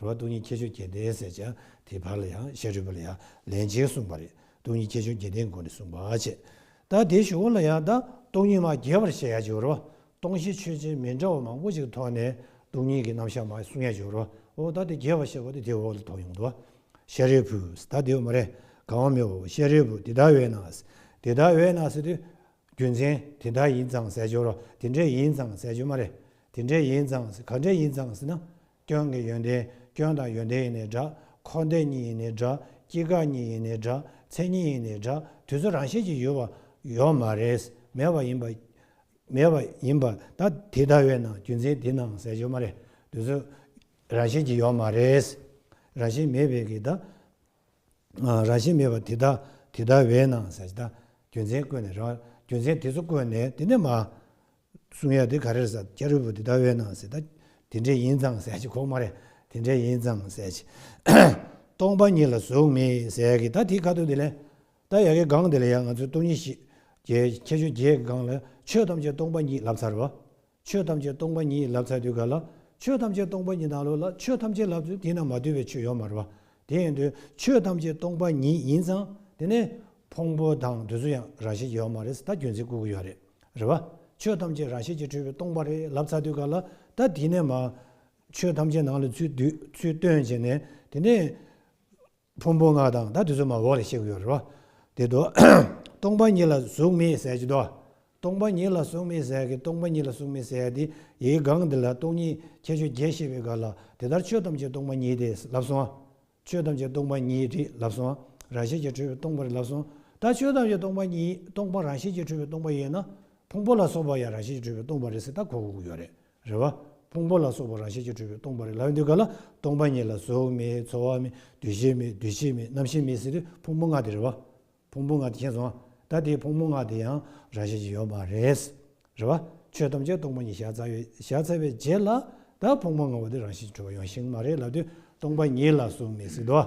རུ་བ་སྟོང་ཉིད་ཁྱད་ཆོས་བརྒྱད་ལྡན་ཟེར་བྱ། དེའི་བར་ལ་ཡང་ཤ་རུས་པ་ལ་ཡང་ལན་གཅིག་གསུངས་པ་རེད། སྟོང་ཉིད་ཁྱད་ཆོས་བརྒྱད་ལྡན་དགོངས་ནས་གསུངས་པ་བྱས། ད་དེའི་ཞུ་བ་ལ་ཡང་ད་སྟོང་ཉིད་མ་རྒྱས་པར་བཤད་ཡ་ཅིག་རུ་བ་སྟོང་བཞི་ཆོས་ཅན་མི་འདྲ་བ་མང་པོ་ཅིག་ཐོགས་ནས་སྟོང་ཉིད་ཀྱི་རྣམ་གཞག་མ་གསུངས་ཡ་ཅིག་རུ་བ་ད་དེ་རྒྱས་པར་བཤད་པ་དེ་དེའི་འོག་ལ་དོགས་ཡོང་དུ་བ། ཤ་རུས་བུས་ད་དེ་བ་མ་རེད་གང་བ་མི་བ་བོ་ཤ་རུས་བུ་དེ་དག་བས་ན། དེ་དག་བས་ན་ཟེར་དུས། རྒྱུ་མཚན་དེ་དག་ཡིན་ཙང་ཟེར་ཅིག་རུ་བ་དེ་འདྲས་ཡིན་ཙང་ཟེར་རྒྱུ་མ་རེད། དེ་འདྲས་ཡིན་ཙང་ཟེར་ག་འདྲས་ཡིན་ཙང་ཟེར་ན། སྐྱོན་གྱི་ཡོན་ཏན་སྐྱོན་དང་ཡོན་ཏན་ཡིན་ནས་འདྲ། འཁོར་འདས་གཉིས་ཡིན་ནས་འདྲ། སྐྱེ་འགག་གཉིས་ཡིན་ནས་འདྲ། མཚན་ཉིད་ཡིན་ནས་འདྲ། དུས་ཚོད་རང་བཞིན་གྱིས་ཡོད་པ། ཡོད་མ་རེད། མེད་པ་ཡིན་པ། མེད་པ་ཡིན་པ། ད་དེ་ལྟ་བས་ན་རྒྱུ་མཚན་དེ་ནའང་ཟད་ཡོད་མ་རེད། དུས་ཚོད་རང་བཞིན་གྱིས་ཡོད་མ་རེད། རང་བཞིན་མེད་པས་ཀྱི་ད། རང་བཞིན་མེད་པ་དེ་དག་དེ་ལྟར་བས་ན་ཟད་ཅེས་དང། རྒྱུ་མཚན་བཀོད་ནས་རང་རྒྱུ་མཚན་དེ་ཚོ་བཀོད་ནས་དེ་ནས་མ། གསུང་ཡ་དེ་ག་རེར་ཟ་ཀྱ་རི་བུ་དེ་ལྟར་བས་ན་ཟད་དང། དེ་འདྲའི་ཡིན་ཙང་ཟད་ཅེས་ཁོག་མ་རེད་དེ་འདྲའི་ཡིན་ཙང་ཟད་ཅེས། སྟོང་པ་ཉིད་ལ་གཟུགས་མེད་ཟད་ཀྱི་ད་དེ་ག་དུས་དེ་ལས། ད་ཡ་གི་གང་དེ་ལ་ཡང་ང་ཚོས་སྟོང་ཉིད་ཤེས། ཁྱད་ཆོས་བརྒྱད་ཀྱི་སྒང་ལ་ཆོས་ཐམས་ཅད་སྟོང་པ་ཉིད་ལབ་ཚར་བ། ཆོས་ཐམས་ཅད་སྟོང་པ་ཉིད་ཡིན་ལབ་ཚ་དུས་ག་ལ། ཆོས་ཐམས་ཅད་སྟོང་པ་ཉིད་དང་ལོ་ལ་ཆོས་ཐམས་ཅད་ལབ་ཚུལ་དེ་ན་མ་དུལ་བའི་ཆོས་ཡོད་མ་རེད་པ། དེ་ཡིན་དུས་ཆོས་ཐམས་ཅད་སྟོང་པ་ཉིད་ཡིན་ཙང་དེ་ནས་ཕུང་པོ་དང་དུས་ཚོད་ཡང་རང་བཞིན་གྱི་ཡོད་མ་རེད་ད་རྒྱུ་མཚན་བསྐུར་གི་ཡོད་རེད་རེད་པ། ཆོས་ཐམས་ཅད་རང་བཞིན་གྱི་འཁྲུལ་བའི་སྟོང་པ་རེད་ལབ་ཚ་དུས་ག་ལ། ད་དེ་ནས་མ། ཆོས་ཐམས་ཅད་ནང་ལ་ཚུད་དུས་ཚུལ་སྟོན་བྱས་ནས་དེ་ནས། ཕུང་པོ་ལྔ་དང་ད་དུས་སོ་མ་འོག་ལས་བཤད་ཀྱི་ཡོད་རེད་བ། དེ་དུ། སྟོང་པ་ཉིད་ལ་གཟུགས་མེད་ཟད་ཀྱི་དུ། སྟོང་པ་ཉིད་ལ་གཟུགས་མེད་ཟད་ཀྱི་སྟོང་པ་ཉིད་ལ་གཟུགས་མེད་ཟད་དེ་ཡི་སྒང་འདི་ལ་སྟོང་ཉིད་ཁྱད་ཆོས་བརྒྱད་ཤེས་པའི་སྒང་ལ་དེ་ལྟར་ཆོས་ཐམས་ཅད་སྟོང་པ་ཉིད་དེས་ལབ་སོང། ཆོས་ཐམས་ཅད་སྟོང་པ་ཉིད་དེས་ལབ་སོང། རང་ཤེས་ཀྱིས་གྲོལ་བའི་སྟོང་པ་རེད་ལབ་སོང། ད་ཆོས་ཐམས་ཅད་སྟོང་པ་ཉིད་སྟོང་པ་རང་ཤེས་ཀྱིས་གྲོལ་བའི་སྟོང་པ་ཡིན་ན། ཕུང་པོ་ལ་སོགས་པ་ཡང་རང་ཤེས་ཀྱིས་གྲོལ་བའི་སྟོང་པ་རེད་ཟེར་ད་གོ་གི་ཡོད་རེད། རེ་བ། ཕུང་པོ་ལ་སོགས་པ་རང་བཞིན་གྱིས་གྲུབ་པའི་སྟོང་པ་རེ་ལ་འདི་ག་ལ་སྟོང་པ་ཉིད་ལ་གཟུགས་མེད་ཚོར་བ་མེད་འདུ་ཤེས་མེད་འདུ་བྱེད་མེད་རྣམ་ཤེས་མེད་ཟེར་དུས་ཕུང་པོ་ལྔ་དེ་རེ་བ། ཕུང་པོ་ལྔ་དེ་མཁྱེན་སོང་ང་ད་ལྟའི་ཕུང་པོ་ལྔ་དེ་ཡང་རང་བཞིན་གྱིས་ཡོད་པ་རེད། རེ་བ། ཆོས་ཐམས་ཅད་སྟོང་པ་ཉིད་བཞག་ཚར་བའི་རྗེས་ལ་ད་ཕུང་པོ་ལྔ་བོ་དེ་རང་བཞིན་གྱིས་གྲུབ་པ་ཡང་ཞིག་མ་རེད་ལབ་དུས་སྟོང་པ་ཉིད་ལ་གཟུགས་མེད་ཟེར་དུས།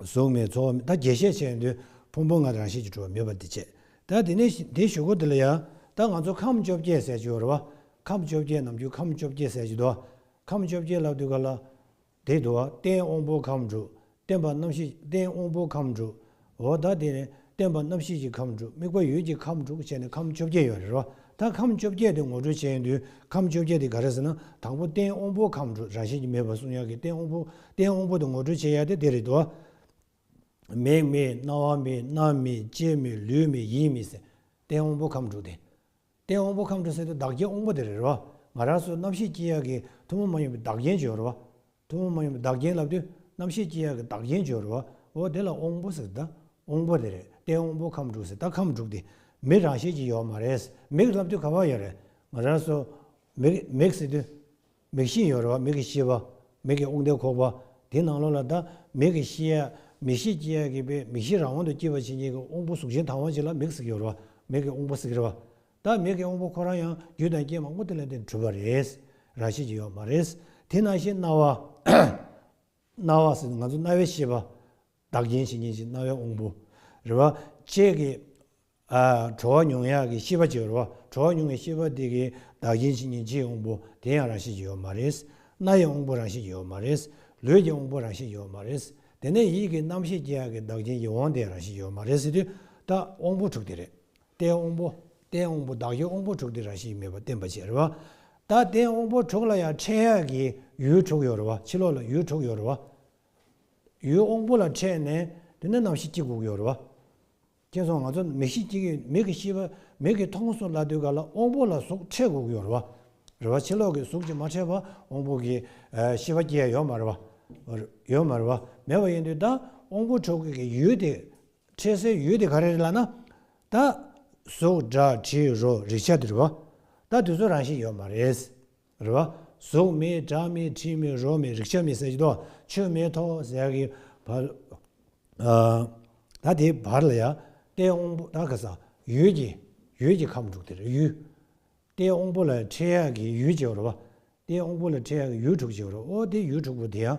གཟུགས་མེད་ཚོགས་མེད་ད་རྒྱས་བཤད་བྱས་ཡོང་དུས་ཕུང་པོ་ལྔ་རང་བཞིན་གྱི་གྲུབ་པ་མེད་པར་འདི་བྱེད་ད་དེ་ནས་དེ་ཞུ་སྒོ་འདི་ལ་ཡང་ད་ང་ཚོ་ཁམས་བཅོ་བརྒྱད་ཟེར་གྱི་ཡོད་རེད་བ་ཁམས་བཅོ་བརྒྱད་ནམ་རྒྱུན་ཁམས་བཅོ་བརྒྱད་ཟེར་གྱི་འདུག་ཁམས་བཅོ་བརྒྱད་ལབ་དུས་ག་ལ་དེ་འདུག་བ་རྟེན་དབང་པོ་ཁམས་དྲུག་བརྟེན་པ་རྣམ་ཤེས་རྟེན་དབང་པོ་ཁམས་དྲུག་འོ་ད་དེ་ནི་སྟོན་པ་རྣམ་བཞི་ཀྱི་ཁམས་དྲུག་དམིགས་པ་ཡུལ་གྱི་ཁམས་དྲུག་བྱས་ནས་ཁམས་བཅོ་བརྒྱད་ཡོད་རེད་རོ། ད་ཁམས་བཅོ་བརྒྱད་དེ་ངོ་སྤྲོད་བྱེད་ཡོང་དུས་ཁམས་བཅོ་བརྒྱད་དེ་ག་རེད་ཟེར་ན་དང་པོ་རྟེན་དབང་པོ་ཁམས་དྲུག་རང་བཞིན་གྱིས་མེད་པར་གསུངས་ཡག་གི་རྟེན་དབང་པོ་རྟེན་དབང་པོ་དེ་ངོ་སྤྲོད་བྱེད་ཡག་དེ་དེ་རེད་དོ། མིག་མེད་རྣ་བ་མེད་སྣ་མེད་ལྕེ་མེད་ལུས་མེད་ཡིད་མེད་ཟེར་རྟེན་དབང་པོ་ཁམས་དྲུག་དེ། རྟེན་དབང་པོ་ཁམས་འཕྲོ་སེལ་དུ་བདག་རྐྱེན་དབང་པོ་དེ་རེ་རེ་བ་ང་རང་སོགས་རྣམ་ཤེས་སྐྱེས་ཡག་གི་ཐུན་མོང་མ་ཡིན་པའི་བདག་རྐྱེན་བྱོས་རེ་བ། ཐུན་མོང་མ་ཡིན་པའི་བདག་རྐྱེན་ལབ་དུས་རྣམ་ཤེས་སྐྱེས་ཡག་གི་བདག་རྐྱེན་བྱོས་རེ་བ་འོ་དེ་ལ་དབང་པོ་ཟེར་ད། དབང་པོ་དེ་རེ་རྟེན་དབང་པོ་ཁམས་དྲུག་ཟེར་ད་ཁམས་དྲུག་དེ་མིག་རང་ཤེས་ཀྱི་ཡོད་མ་རེད། མིག་ལབ་དུས་ག་བ་ཡོད་རེད། ང་རང་སོགས། མིག་ཟེར་དུས། མིག་ཤེས་ཡོད་རེ་བ་མིག་གི་ཤེས་པ། མིག་གི་དབུགས་འདེད་ཁོག་པ། དེའི་ནང་ལོགས་ལ་ད་མིག་གི་ཤེས་ཡ། མིག་ཤེས་སྐྱེས་ཡ་གི་པའི་མིག་ཤེས་རང་དབང་དུ་སྐྱེས་པ་ཕྱི་ཉིན་གྱི་དབང་པོ་གཟུགས་ཅན་དང་བ་ཅིག་ལ་མིག་གཟིགས་ཡོད་རེ་བ་མིག་གི་དབང་པོ་གཟིགས་རེ་བ། ད་མིག་གི་དབང་པོ་ཁོ་རང་ཡང་རྒྱུད་དང་རྐྱེན་མང་པོ་དེ་ལ་དེ་འཁྲུལ་པ་རེད། རང་བཞིན་གྱིས་ཡོད་མ་རེད། དེ་སྣང་ཤེས་རྣ་བ། རྣ་བ་ཟེར་ནི་ང་ཚོ་རྣ་བའི་ཤེས་པ། བདག་རྐྱེན་ཕྱི་ཉིན་གྱི་རྣ་བའི་དབང་པོ། རེ་བ། བཅས་ཀྱི། དྲོ་བ་མྱོང་ཡག་གི་ཤི་བ་གཅིག་རོ། དྲོ་བ་མྱོང་བའི་ཤི་བ་དེ་གི་བདག་རྐྱེན་ཕྱི་ཉིན་ལྕེའི་དབང་པོ་དེ་ཡང་རང་བཞིན་གྱིས་ཡོད་མ་རེད། སྣའི་དབང་པོ་རང་བཞིན་གྱིས་ཡོད་མ་རེད། ལུས་ཀྱི་དབང་པོ་རང་བཞིན་ཡོད་མ་རེད། དེ་ནས་ཡིད་ཀྱི་རྣམ་ཤེས་སྐྱེ་ཡག་གི་བདག་རྐྱེན་གྱི་དབང་དེ་རང་བཞིན་ཡོད་མ་རེད་ཟེར་དུས་ད་དབང་པོ་དྲུག་དེ་རེད། རྟའི་དབང་པོ། རྟའི་དབང་པོ་བདག་གི་དབང་པོ་དྲུག་དེ་རང་བཞིན་གྱིས་མེད་པ་བསྟན་པ་ཕྱིར། ད་རྟའི་དབང་པོ་དྲུག་ལ་ཡང་ཕྲད་ཡག་གི་ཡུལ་དྲུག་ཡོད་རེད། ཕྱི་ལོགས་ལ་ཡུལ་དྲུག་ཡོད་རེད། ཡུལ་དབང་པོ་ལ་ཕྲད་ནས་དེ་ནས་རྣམ་ཤེས་སྐྱེ་དགུག་ཡོད་རེད། ཁྱེད་ཚོ་ང་ཚོ་མི་གཤིས་གཅིག་ཡིན་མིག་གི་ཤེས་པ་མིག་གི་མཐོང་སོ་ལ་དུས་ག་ལ་དབང་པོ་ལ་གཟུགས་ཕྲད་དགོས་ཀྱི་ཡོད་རེད་བ། རེད་བ་ཕྱི་ལོག་གི་གཟུགས་ཀྱི་མ་ཕྲད་པ་དབང་པོ་གི་ཤེས་པ་སྐྱེ་ཡོད་མ་རེད་བ། ཡོད་མ་རེད་བ་མེད་བ་ཡིན་དུས་ད་དབང་པོ་འཕྲོག་གི་གི་ཡུལ་དེ་ཕྲད་སའི་ཡུལ་དེ་ག་རེ་རེད་ལ་ན། ད་གཟུགས་སྒྲ་དྲི་རོ་རེག་བྱ་དེ་རེད་བ། ད་དུས་ཚོད་རང་བཞིན་ཡོད་མ་རེད། རེ་བ། གཟུགས་མེད་སྒྲ་མེད་དྲི་མེད་རོ་མེད་རེག་བྱ་མེད་ཟེར་གྱི་འདུག་ཆོས་མེད་ཐོག་ཟེར་གྱི། ད་དེའི་བར་ལ་ཡང་རྟའི་དབང་པོ་རྟ་ཁ་སང་ཡུལ་གྱི་ཡུལ་གྱི་ཁམས་དྲུག་དེར་ཡུལ། རྟའི་དབང་པོ་ལ་ཁྲེལ་ཡག་གི་ཡུལ་བྱེད་པར་རོ། རྟའི་དབང་པོ་ལ་ཁྲེལ་ཡག་གི་ཡུལ་དྲུག་བྱེད་པར་རོ། ཨོ་དེ་ཡུལ་དྲུག་པོ་དེ་ཡང་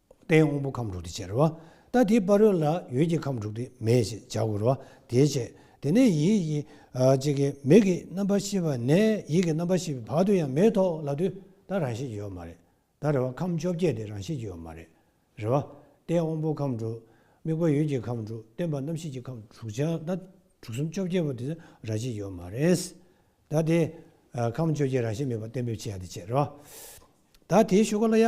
རྟའི་དབང་པོ་ཁམས་དྲུག་སྟེ་ཕྱིར། རྟ་དེའི་དཔའ་རོལ་ལ་ཡོད་ཀྱི་ཁམས་དྲུག་སྟེ་མེ་ཞེས་བྱ་འོ་རོ་དེའི་ཕྱེད། དེ་ནས་ཡིད་ཀྱི། ཅེས་ཀྱི་མིག་གི་རྣམ་པར་ཤེས་པ་ནས་ཡིད་ཀྱི་རྣམ་པར་ཤེས་པའི་བར་དུ་ཡང་མེའི་ཐོག་ལ་དུས་ད་རང་བཞིན་གྱིས་ཡོད་མ་རེད་ད་རེ་བ་ཁམས་བཅོ་བརྒྱད་དེ་རང་བཞིན་གྱིས་ཡོད་མ་རེད་རེ་བ། རྟའི་དབང་པོ་ཁམས་དྲུག། དམིགས་པ་ཡུལ་གྱི་ཁམས་དྲུག་སྟོན་པ་རྣམ་ཤེས་ཀྱི་ཁམས་དྲུག་ཅིག་ད་དྲུག་གསུམ་བཅོ་བརྒྱད་པོ་དེ་རང་བཞིན་ཡོད་མ་རེད། ད་དེ། ཁམས་བཅོ་བརྒྱད་རང་བཞིན་མེད་པ་གཏན་འབེབས་བྱེད་ཡ་དེ་ཕྱིར། ད་དེའི་ཤོ་ཀ་ལ་ཡ།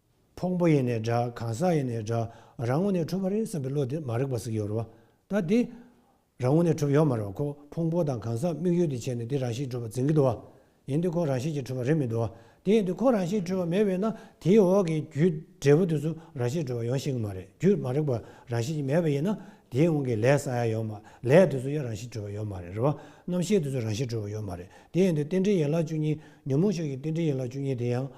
ཕུང་པོ་ཡེ་ནས་འདྲ་གང་ཟག་ཡེ་ནས་འདྲ་རང་ངོ་ནས་གྲུབ་པ་རེད་བསམ་པའི་བློ་དེ་མ་རིག་པ་ཟིག་ཡོད་རེད་བ། ད་དེ། རང་ངོ་ནས་གྲུབ་ཡོད་མ་རེད་བ་ཁོ་ཕུང་པོ་དང་གང་ཟག་དམིགས་ཡུལ་དེ་བྱས་ནས་དེ་རང་བཞིན་གྲུབ་པར་འཛིན་གྱི་འདུག་བ། ཡིན་དེ་ཁོ་རང་བཞིན་གྱིས་གྲུབ་པ་རེད་མི་འདུག་བ། དེ་ཡིན་དུས་ཁོ་རང་བཞིན་གྲུབ་པ་མེད་བས་ན་དེའི་འོག་གི་རྒྱུ་འབྲས་བུ་དེ་ཚོ་རང་བཞིན་གྲུབ་པ་ཡོང་ཤེས་ཀྱི་མ་རེད་རྒྱུ་མ་རིག་པ་རང་བཞིན་གྱིས་མེད་པ་ཡིན་ན་དེའི་དབང་གིས་ལས་ས་ཡ་ཡོད་མ་ལས་དེ་ཚོ་ཡ་རང་བཞིན་གྲུབ་པ་ཡོད་མ་རེད་རེད་བ། རྣམ་ཤེས་དེ་ཚོ་རང་བཞིན་གྲུབ་པ་ཡོད་མ་རེད་དེ་ཡིན་དུས་རྟེན་འབྲེལ་ཡན་ལག་བཅུ་གཉིས་ཉོན་མོངས་ཕྱོགས་ཀྱི་རྟེན་འབྲེལ་ཡན་ལག་བཅུ་གཉིས་དེ་ཡང།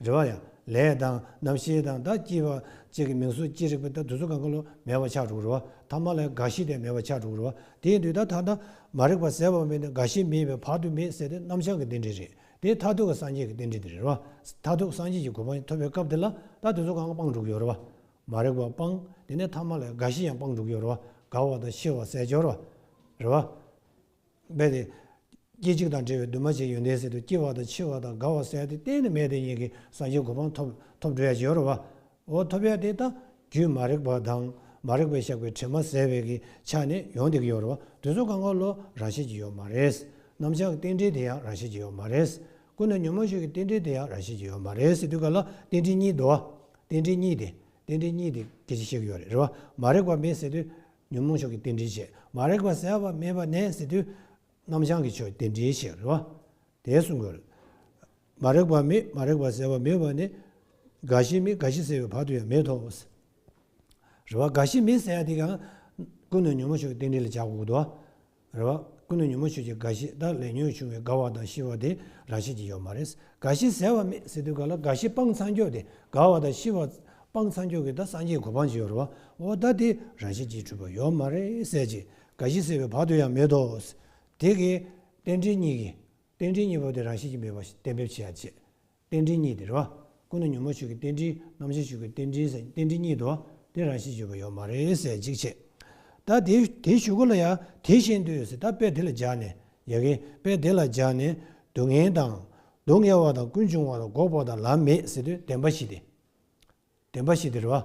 རེ་བ་ཡ། ལས་དང། རྣམ་ཤེས་དང་དག་སྐྱེས་པ། ཅེས་ཀྱི་མིང་སོགས་ཅི་རིགས་པའི་ལྟར་དུ་ཚུགས་ཀ་འཁོར་ལོ་མེད་པར་ཆགས་དྲུག་རུ་བ། ཐ་མ་ལས་རྒ་ཤི་དེ་མེད་པར་ཆགས་དྲུག་རུ་བ། དེའི་དུས་ད་ལྟ་ན། མ་རིག་པ་ཟད་པར་མེད་ནས་རྒ་ཤི་མེད་པའི་བར་དུ་མེད་ཟེར་ཏེ་རྣམ་བྱང་གི་རྟེན་འབྲེལ་རེད། དེ་མཐར་ཐུག་གི་སངས་རྒྱས་ཀྱི་རྟེན་འབྲེལ་དེ་རེད་རུ་བ། མཐར་ཐུག་སངས་རྒྱས་ཀྱི་གོ་འཕང་ཐོབ་པའི་སྐབས་དེ་ལ་ད་དུ་ཚུགས་ཀ་སྤངས་དྲུག་ཡོད་རུ་བ། མ་རིག་པ་སྤངས། དེ་ནས་ཐ་མ་ལས་རྒ་ཤི་ཡང་སྤངས་དྲུག་ཡོད་རུ་བ། རྒ་བ་དང་ཤི་བ་ཟད་སྦྱོར་བ། རུ་བ། རྦད་དེ། སྐྱེ་འཇིག་དང་བྲལ་བའི་འདུས་མ་བྱས་ཡོན་ཏན་ཟད་དུ་སྐྱེ་བ་དང་འཆི་བ་དང་རྒ་བ་ཟད་དེ་གཏན་ནས་མེད་དེ་ཉིད་ཀྱི་སངས་རྒྱས་གོ་འཕང་ཐོབ། ཐོབ་འགྲོ་ཡང་བྱེད་རུང་བའོ། ཐོབ་ཡང་དེ་ལྟ། རྒྱུད་མ་རིག་པ་དང་མ་རིག་པས་བཤགས་པའི་དྲི་མ་བསལ་བས་ཀྱི་ཆ་ནས་ཡོང་དེ་ཀྱི་ཡོ་རུ་བ་དུས་སུ་གང་གང་ལོ་རང་བཞིན་གྱི་ཡོ་མ་རེད། ནམ་ཆགས་རྟེན་འབྲེལ་དེ་ཡང་རང་བཞིན་གྱི་ཡོ་མ་རེད། ཀུན་ནས་ཉོན་མོངས་ཤུགས་ཀྱི་རྟེན་འབྲེལ་དེ་ཡང་རང་བཞིན་གྱི་ཡོ་མ་རེད་སྲིད་དུས་ག་ལ་རྟེན་འབྲེལ་གཉིས་བདོ་བ། རྟེན་འབྲེལ་གཉིས་དེ། རྟེན་འབྲེལ་གཉིས་དེ་སྐད་ཅིག་བཤད་ཀྱི་ཡོ་རེད་རེད་བ། མ་རིག་པ་མེད་ཟེར་དུས། ཉོན་མོངས་ཕྱོགས་ཀྱི་རྟེན་འབྲེལ་བྱེད་མ་རེག་པ་སེལ་བ་མེད་པ་ནས་ཟེར་དུས། རྣམ་བྱང་གི་ཕྱོགས་ཀྱི་རྟེན་འབྲེལ་བྱེད་རེད་བ། དེ་གསུང་དགོས་རེད། མ་རེག་པ་མེད་མ་རེག་པ་སེལ་བ་མེད་བ་ནི། དགའ་བཞི་མེད་དགའ་བཞི་སེལ་བའི་བར་དུ་ཡང་མེད་དོ། རེད་བ། དགའ་བཞི་མེད་སེལ་ཡ་དེ་གང། ཀུན་ནས་ཉོན་མོངས་ཕྱོགས་ཀྱི་རྟེན་འབྲེལ་ལ་བྱ་དགོས་དོ། རེད་བ། ཀུན་ནས་ཉོན་མོངས་ཆོས་ཀྱི་རྒ་ཤི་དང་ལས་ཉོན་བྱུང་བའི་རྒ་བ་དང་ཤི་བ་དེ་རང་བཞིན་གྱིས་ཡོད་མ་རེད། རྒ་ཤི་ཟེར་བ་མེད་ཟེར་དུས་ག་ལ་རྒ་ཤི་སྤང་ཚང་འགྱོགས་དེ་རྒ་བ་དང་ཤི་བ་སྤང་ཚང་འགྱོགས་གི་ད་སངས་རྒྱས་གོ་འཕང་ཅི་ཡོད་རེད་བ། འོ་ད་དེ་རང་བཞིན་གྱིས་གྲུབ་པ་ཡོད་མ་རེད་ཟེར་གྱི་རྒ་ཤི་ཟེར་བའི་བར་དུ་ཡང་མེད་དོ། དེ་གའི་རྟེན་འབྲེལ་གཉིས་གི། རྟེན་འབྲེལ་གཉིས་པོ་དེ་རང་བཞིན་གྱིས་མེད་པ་བརྟན་འབེབས་བྱེད་ཡ་བྱེད། རྟེན་འབྲེལ་གཉིས་དེ་རེད་བ། སྐུ་ན་ཉོན་མོངས་ཤུགས་ཀྱི་རྟེན་འབྲེལ་རྣམ་གཞག་ཤུགས་ཀྱི་རྟེན་འབྲེལ་ཟེར་རྟེན་འབྲེལ་གཉིས་དོ། དེ་རང་བཞིན་བརྗོད་པ་ཡོད་མ་རེད་ཟེར་གཅིག་བྱས། ད་དེ་དེ་ཞུ་གོ་ལ་ཡ་དེ་བཤད་འདོད་ཡོད་ཟེར་ད་དཔེ་དེ་ལ་སྦྱར་ནས་ཡ་གི་དཔེ་དེ་ལ་སྦྱར་ནས་སྡུག་བསྔལ་དང། སྡུག་བསྔལ་བ་དང་ཀུན་འབྱུང་བ་དང་འགོག་པ་དང་ལམ་མེད་ཟེར་དུས་བདེན་པ་བཞི་སྟེ། བདེན་པ་ཞིག་དེ་རེད།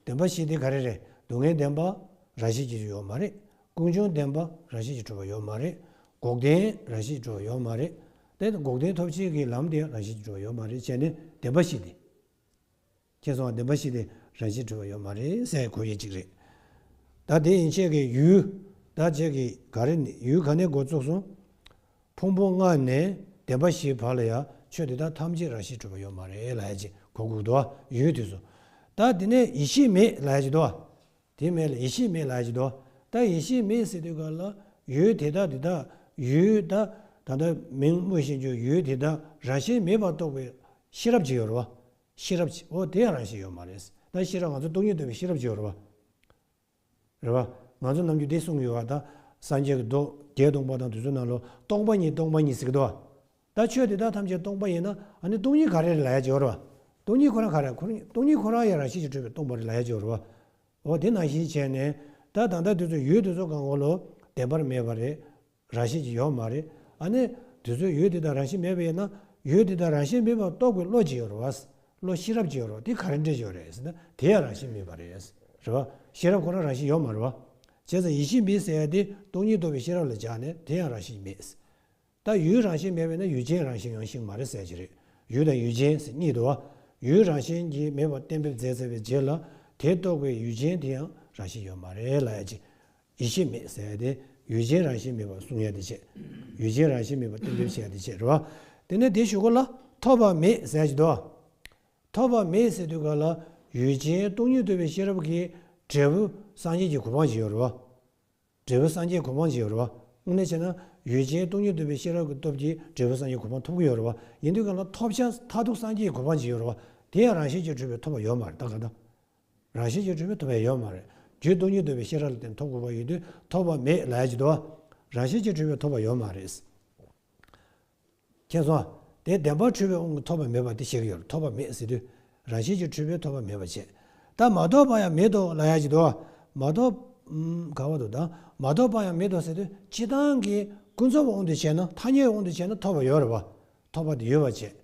བདེན་པ་ཞིག་དེ་ག་རེ་རེད་སྡུག་བསྔལ་བདེན་པ་རང་བཞིན་གྱིས་ཡོད་མ་རེད། ཀུན་འབྱུང་བདེན་པ་རང་བཞིན་གྱིས་གྲུབ་པ་ཡོད་མ་རེད། འགོག་བདེན་རང་བཞིན་གྱིས་གྲུབ་པ་ཡོད་མ་རེད། དེ་འགོག་བདེན་ཐོབ་བྱེད་ཀྱི་ལམ་དེ་རང་བཞིན་གྱིས་གྲུབ་པ་ཡོད་མ་རེད་བྱས་ནས་བདེན་པ་ཞིག་དེ། མཁྱེན་སོང་བ་བདེན་པ་ཞིག་དེ་རང་བཞིན་གྲུབ་པ་ཡོད་མ་རེད་སའི་གོ་ཡི་གཅིག་རེད། ད་དེ་ཡིན་ཆད་ཀྱི་ཡུལ། ད་བྱས་ཀྱི་ག་རེ་ཡུལ་ག་ནས་འགོ་བཙུགས་སོང། ཕུང་པོ་ལྔ་ནས་བདེན་པ་བཞིའི་བར་ལ་ཡང་ཆོས་དེ་དག་ཐམས་ཅད་རང་བཞིན་གྲུབ་པ་ཡོད་མ་རེད་ལ་ཡ་ཅེས་གོ་དགུག་དོ། ཡུལ་དེ་སོ། ད་དེ་ནས་ཡེ་ཤེས་མེད་ལ་ཡ་ཅེས་དོ། དེ་མེད་ལ་ཡེ་ཤེས་མེད་ལ་ཡ་ཅེས་དོ། ད་ཡེ་ཤེས་མེད་སྲིད་དུས་ག་ལ་ཡུལ་དེ་དག་དེ་དག་ཡུལ། ད་ད་ལྟ་མིང་སྨོས་བཞིན་བརྗོད་ཡུལ་དེ་དག་རང་བཞིན་མེད་པར་རྟོགས་པའི་ཤེས་རབ་ཅིག་ཡོད་རེད་བ། ཤེས་རབ་ཅིག་ཨོ་དེ་ཡང་རང་བཞིན་ཡོད་མ་རེད། ད་ཤེས་རབ་ང་ཚོ་སྟོང་ཉིད་རྟོགས་པའི་ཤེས་རབ་ཅིག་ཡོད་རེད་བ། རེད་བ། ང་ཚོ་རྣམས་ཀྱིས་འདི་གསུངས་ཡོད་བ་དང། སངས་རྒྱས་ཀྱི་མདོ་བརྒྱད་སྟོང་པ་དང་དུས་གསུམ་ན་ལོ་སྟོང་པ་ཉིད་སྟོང་པ་ཉིད་ཟེར་གྱི་འདུག་བ། ད་ཆོས་དེ་དག་ཐམས་ཅད་སྟོང་པ་ཡིན་ན་ཨ་ནི་སྟོང་ཉིད་ག་རེ་རེད་ལ་ཡ་བྱེད་བ་རེད་བ། སྟོང་ཉིད་ཁོ་རང་ག་རེད་ཁོ་སྟོང་ཉིད་ཁོ་རང་ཡང་རང་བཞིན་གྱིས་གྲུབ་པའི་སྟོང་པ་རེད་ལ་ཡ་བྱེད་བ་རེད་བ། འོ་དེ་ནང་བཞིན་བྱས་ནས་ད་ད་ལྟ་དུས་ཚོད་ཡོད་དུས་ཚོད་གང་འོང་ལོ་བདེན་པར་མེད་བ་རེད། རང་བཞིན་གྱིས་ཡོད་མ་རེད། ཨ་ནི། དུས་ཚོད་ཡོད་དེ་དང་རང་བཞིན་མེད་པ་ཡིན་ན། ཡོད་དེ་དང་རང་བཞིན་མེད་པ་རྟོགས་པའི་བློ་ཅི་ཡོད་རེད། བློ་ཤེས་རབ་ཅི་ཡོད་རེད། དེ་ག་རེ་འདྲེན་ཞོར་རེད་ཟེར་ན་དེ་ཡང་རང་བཞིན་མེད་པ་རེད། རེད་བ། ཤེས་རབ་ཁོ་ན་རང་བཞིན་ཡོད་མ་རེད་བ། བྱས་ཙང་ཡིད་ཤེས་མེད་ཟེར་ཡ་དེ་སྟོང་ཉིད་རྟོགས་པའི་ཤེས་རབ་ལ་སྦྱར་ནས་དེ་ཡང་རང་བཞིན་མེད། ད་ཡུལ་རང་བཞིན་མེད་པ་ཡིན་ན་ཡུལ་ཅན་རང་བཞིན་ཡང་ཞིག་མ་རེད་ཟེར་གྱི་རེད། ཡུལ་དང་ཡུལ་ཅན་ཟེར་གཉིས་དུ་བ། ཡུལ་རང་བཞིན་གྱིས་མེད་པར་གཏན་འབེབས་མཛད་ཟེར་བའི་རྗེས་ལ། དེ་རྟོགས་པའི་ཡུལ་ཅན་དེ་ཡང་རང་བཞིན་ཡོད་མ་རེད་ལ་ཡ་གཅིག། ཡིད་ཆེས་མེད་ཟེར་ཡ་དེ་ཡུལ་ཆེན་རང་བཞིན་མེད་པར་གསུང་ཡ་དེ་བྱེད། ཡུལ་ཆེན་རང་བཞིན་མེད་པར་གཏན་འབེབས་བྱེད་ཡ་དེ་བྱེད་རེད་བ། དེ་ནས་དེ་ཞུ་གོ་ལ། ཐོབ་པ་མེད་ཟེར་གྱི་འདུག་བ། ཐོབ་པ་མེད་ཟེར་དུས་ག་ལ་ཡུལ་ཆེན་སྟོང་ཉིད་ཐོབ་པའི་ཤེས་རབ་ཀྱིས་འབྲས་བུ་སངས་རྒྱས་ཀྱི་གོ་འཕང་བྱེད་ཡོད་རེད་བ། འབྲས་བུ་སངས་རྒྱས་གོ་འཕང་བྱེད་ཡོད་རེད་བ། དངོས་གནས་བྱས་ན་ཡུལ་ཆེན་སྟོང་ཉིད་ཐོབ་པའི་ཤེས་རབ་ཀྱི་སྟོབས་ཀྱིས་འབྲས་བུ་སངས་རྒྱས་གོ་འཕང་ཐོབ་ཀྱི་ཡོད་རེད་བ། ཡིན་དུས་ག་ལ་ཐོབ་བྱ་མཐའ་ཐུག་སངས་རྒྱས་ཀྱི་གོ་འཕང་བྱེད་ཡོད་རེད་བ། དེ་ཡང་རང་བཞིན་གྱིས་གྲུབ་པའི་ཐོབ་པ་ཡོད་མ་རེད་ད་ག་ད། རང་བཞིན་གྱིས་གྲུབ་པའི་ཐོབ་པའི་ཡོད་མ་རེད། རྒྱུའི་སྟོང་ཉིད་འདོད་པའི་ཤེས་རབ་ལ་བརྟེན་ཐོབ་དགོས་པ་ཡོད་དུས་ཐོབ་པ་མེད་ལ་ཡ་གཅིག་ཏུའོ། རང་བཞིན་གྱིས་གྲུབ་པའི་ཐོབ་པ་ཡོད་མ་རེད། མཁྱེན་སོང། དེ་བདེན་པར་འཁྲུལ་བའི་དབང་གིས་ཐོབ་པ་མེད་པ་དེ་ཤེས་ཀྱི་ཡོད་ལ་ཐོབ་པ་མེད་ཟེར་དུས་རང་བཞིན་གྱིས་གྲུབ་པའི་ཐོབ་པ་མེད་པར་བྱས། ད་མ་རྟོགས་པ་ཡང་མེད་དོ་ལ་ཡ་གཅིག་ཏུའོ། མ་རྟོགས། ག་བ་དོ་དང་མ་རྟོགས་པ་ཡང་མེད་དོ་ཟེར་དུས་ཕྱི་དང་གི་ཀུན་རྫོབ་དབང་དུ་བྱས་ན་ཐ་སྙད་དབང་དུ་བྱས་ན་ཐོབ་པ་ཡོད་རེད་བ། ཐོབ་པ་དེ་ཡོད་པར་བྱས།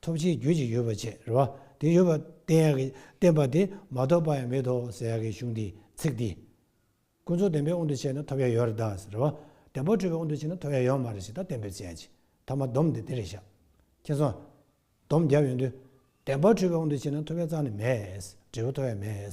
ཐོབ་བྱའི་རྒྱུ་གཅིག་ཡོད་པར་བྱས་རེད་བ། དེ་ཡོད་པར་བསྟན་ཡག་གི་བསྟན་པ་དེ་མ་རྟོགས་པ་ཡང་མེད་དོ་ཟེར་ཡག་གི་གཞུང་འདིའི་ཚིག་འདི། ཀུན་རྫོབ་བདེན་པའི་དབང་དུ་བྱས་ན་ཐོབ་ཡ་ཡོད་རེད་ད་ཟེར་རེད་བ། བདེན་པ་འཁྲུལ་པའི་དབང་དུ་བྱས་ན་ཐོབ་ཡ་ཡོད་མ་རེད་ཞེས་ད་བསྟན་པའི་བྱས་ཅི་ཐ་མ་སྡོམ་དེ་དེ་རེད་ཤག། མཁྱེན་སོང། སྡོམ་བརྒྱབ་ཡོང་དུས། བདེན་པ་འཁྲུལ་པའི་དབང་དུ་བྱས་ན་ཐོབ་ཡ་རྩ་ནས་མེད། འབྲས་བུ་ཐོབ་ཡ་མེད།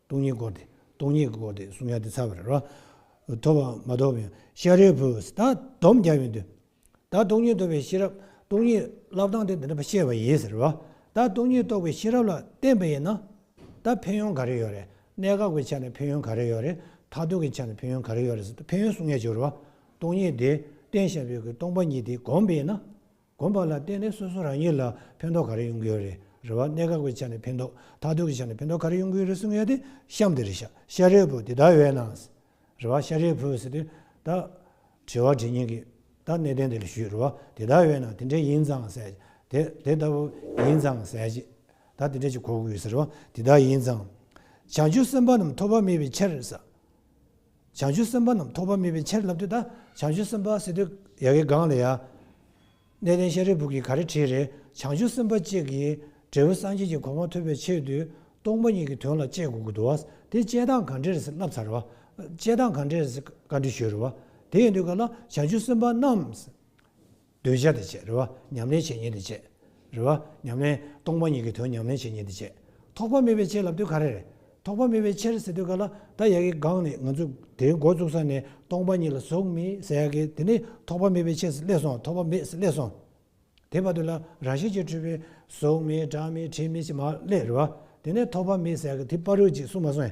སྟོང་ཉིད་སྐོར་ཏེ་སྟོང་ཉིད་སྐོར་ཏེ་གསུང་ཡང་དེ་ཚར་བ་རེད། ཐོབ་པའམ་མ་ཐོབ་ཡང་ཤཱ་རིའི་བུ། ད་སྡོམ་རྒྱབ་ཡོང་དུས། ད་སྟོང་ཉིད་ཐོབ་པའི་ཤེས་རབ་སྟོང་ཉིད་བསླབ་སྟངས་དེ་འདི་འདྲ་བཤད་པ་ཡིན་ཟེར། ད་སྟོང་ཉིད་རྟོགས་པའི་ཤེས་རབ་ལ་བརྟེན་པ་ཡིན་ན། ད་ཕན་ཡོན་ག་རེ་ཡོད་རེད། གནད་འགག་པའི་ཆ་ནས་ཕན་ཡོན་ག་རེ་ཡོད་རེད། མཐར་ཐུག་གི་ཆ་ནས་ཕན་ཡོན་ག་རེ་ཡོད་རེད་ཟེར་ཕན་ཡོན་གསུང་ཡས་བྱུང་རེད། སྟོང་ཉིད་དེ་བསྟན་ཤཱ་རིའི་བུ་སྟོང་པ་ཉིད་དེ་བསྒོམས་པས་ན། དགོན་པ་ལ་བརྟེན་ནས་སོ་སོ་རང་ཉིད་ལ་ཕན་ཐོགས་ག་རེ་ཡོང་གི་ཡོད་རེད་རེད་བ་གནད་འགག་པའི་ཆ་ནས་ཕན་ཐོགས་ཐག་གཏོད་ཀྱི་ཆ་ནས་ཕན་ཐོགས་ག་རེ་ཡོང་གི་ཡོད་རེད་གསུང་ཡས་དེ་གཤམ་དེ་རེད་ཤ་ཤ་རེད་བོ་དེ་དག་ཡོད་ནང་རེད་བ་ཤ་རེད་བོ་ཟེར་དུས་ད་དྲི་བ་དྲི་ཉེན་གི་ད་གནད་དོན་དེ་ལ་ཞུས་རེད་བ་དེ་དག་ཡོད་ནང་དེ་འདྲས་ཡིན་ཙང་ཟེར་དེ་དེ་ལྟ་བུ་ཡིན་ཙང་ཟེར་གྱི་ད་དེ་འདྲས་ཀྱི་གོ་དགོས་ཟེར་བ་དེ་དག་ཡིན་ཙང་བྱང་ཆུབ་སེམས་དཔའ་རྣམས་ཐོབ་པ་མེད་པའི་ཕྱིར་ཟེར། བྱང་ཆུབ་སེམས་དཔའ་རྣམས་ཐོགས་པ་མེད་པའི་ཕྱིར་ལབ་ཏུ་ད་བྱང་ཆུབ་སེམས་དཔའ་སེ་སྟོད་ཡ་གི་སྒང་ལ་ཡ། གནས་བརྟན་ཤ་རི་བུག་གི་ག་རེ་བྲིས་རེ་བྱང་ཆུབ་སེམས་དཔའ་གཅིག་གིས་འབྲས་བུ་སངས་རྒྱས་ཀྱི་གོ་འཕང་ཐོབ་པའི་ཕྱིར་དུ་སྟོང་པ་ཉིད་ཀྱི་དོན་ལ་དཔྱད་དགོས་ཀྱི་འདུག་དེ་དཔྱད་སྟངས་གང་འདྲས་རེད་བསླབ་ཚར་བ། དཔྱད་སྟངས་གང་འདྲས་རེད་བཀའ་འདྲི་ཞུས་རེད་བ། དེ་ཡིན་དུས་ག་ལ་བྱང་ཆུབ་སེམས་དཔའ་རྣམས། འདོད་བྱ་དེ་བྱེད་རེ་བ་ཉམས་ལེན་བྱེད་ཉེས་དེ་བྱེད་རེ་བ་ཉམས་ལེན། སྟོང་པ་ཉིད་ཀྱི་དོན་ཉམས་ལེན་བྱེད་ཉེས་དེ་བྱེད། ཐོགས་པ་མེད་པའི་ཕྱིར་ལབ་དུས་ག་རེ་རེད། ཐོགས་པ་མེད་པའི་ཕྱིར་ཟེར་དུས་ག་ལ་ད་ཡག་གི་སྒང་ནས་ང་ཚོས་དེའི་འགོ་བཙུགས་ས་ནས་སྟོང་པ་ཉིད་ལ་ཟུག་མི་ཟ་ཡག་གི་དེ་ནི་ཐོགས་པ་མེད་པའི་ཕྱིར་སླེབས་སོང་ཐོགས་པ་མེད་སླེབས་སོང། དེ་བར་དུ་ལ་ར་ཤེས་ཀྱི་འཁྲུལ་པའི་ཟུག་མི་སྒྲ་མི་དྲི་མི་ཞིག་མ་སླེབས་རེ་བ་དེ་ནི་ཐོགས་པ་མེད་ཟ་ཡག་གི་དེ་པར་རོལ་ཅིག་གསུངས་མ་སོང།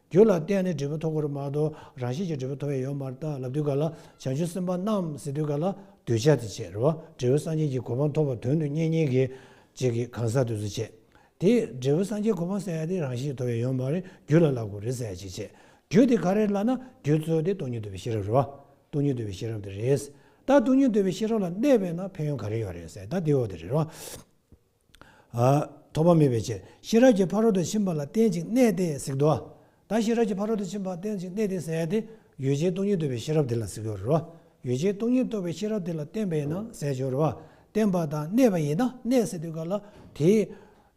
རྒྱུ་ལ་བརྟེན་ནས་འབྲས་བུ་ཐོབ་པར་མ་གཏོགས་རང་བཞིན་གྱིས་འབྲས་བུ་ཐོབ་ཡས་ཡོད་མ་རྟགས་ལབ་དུས་ག་ལ་བྱང་ཆུབ་སེམས་དཔའ་རྣམས་ཟེར་དུས་ག་ལ་གདུལ་བྱ་དེ་བྱེད་རེ་བ་འབྲས་བུ་སངས་རྒྱས་ཀྱི་གོ་འཕང་ཐོབ་པར་དོན་དུ་གཉེན་ཉེ་གི་རྗེས་ཀྱི་གང་ཟག་དུས་སུ་བྱེད་དེ། འབྲས་བུ་སངས་རྒྱས་གོ་འཕང་ཟེར་ཡ་དེ་རང་བཞིན་གྱིས་ཐོབ་ཡས་ཡོད་མ་རེད་རྒྱུ་ལ་ལ་གོ་རེ་ཟེར་ཡ་ཅིག་བྱེད་རྒྱུ་དེ་ག་རེད་ལབ་ན་རྒྱུ་རྩོལ་དེ་སྟོང་ཉིད་འདུལ་བའི་ཤེས་རབ་རེད་བ། སྟོང་ཉིད་འདུལ་བའི་ཤེས་རབ་དེ་རེད། ད་སྟོང་ཉིད་འདུལ་བའི་ཤེས་རབ་ལ་གནས་པས་ན་ཕན་ཡོན་ག་རེ་ཡོད་རེད་ཟེར་ད་དེའོ་དེ་རེད་བ། ཐོགས་པ་མེད་པའི་ཕྱིར་ཤེས་རབ་ཀྱི་ཕ་རོལ་ཏུ་ཕྱིན་པ་ལ་རྟེན་ཅིང་གནས་ཏེ་གཟིགས་འགྲོ། ད་ཤེས་རབ་ཀྱི་ཕ་རོལ་ཏུ་ཕྱིན་པ་རྟེན་ཅིང་གནས་ཏེ་ཟེར་བ་དེ་ཡུལ་ཅན་སྟོང་ཉིད་རྟོགས་པའི་ཤེས་རབ་དེ་ལ་གཟིགས་པའི་རོ། ཡུལ་ཅན་སྟོང་ཉིད་རྟོགས་པའི་ཤེས་རབ་དེ་ལ་རྟེན་པ་ཡིན་ན་ཟས་སྦྱོར་རོ། རྟེན་པ་དང་གནས་པ་ཡིན་ན་གནས་ཟེར་དུས་ག་ལ་དེས།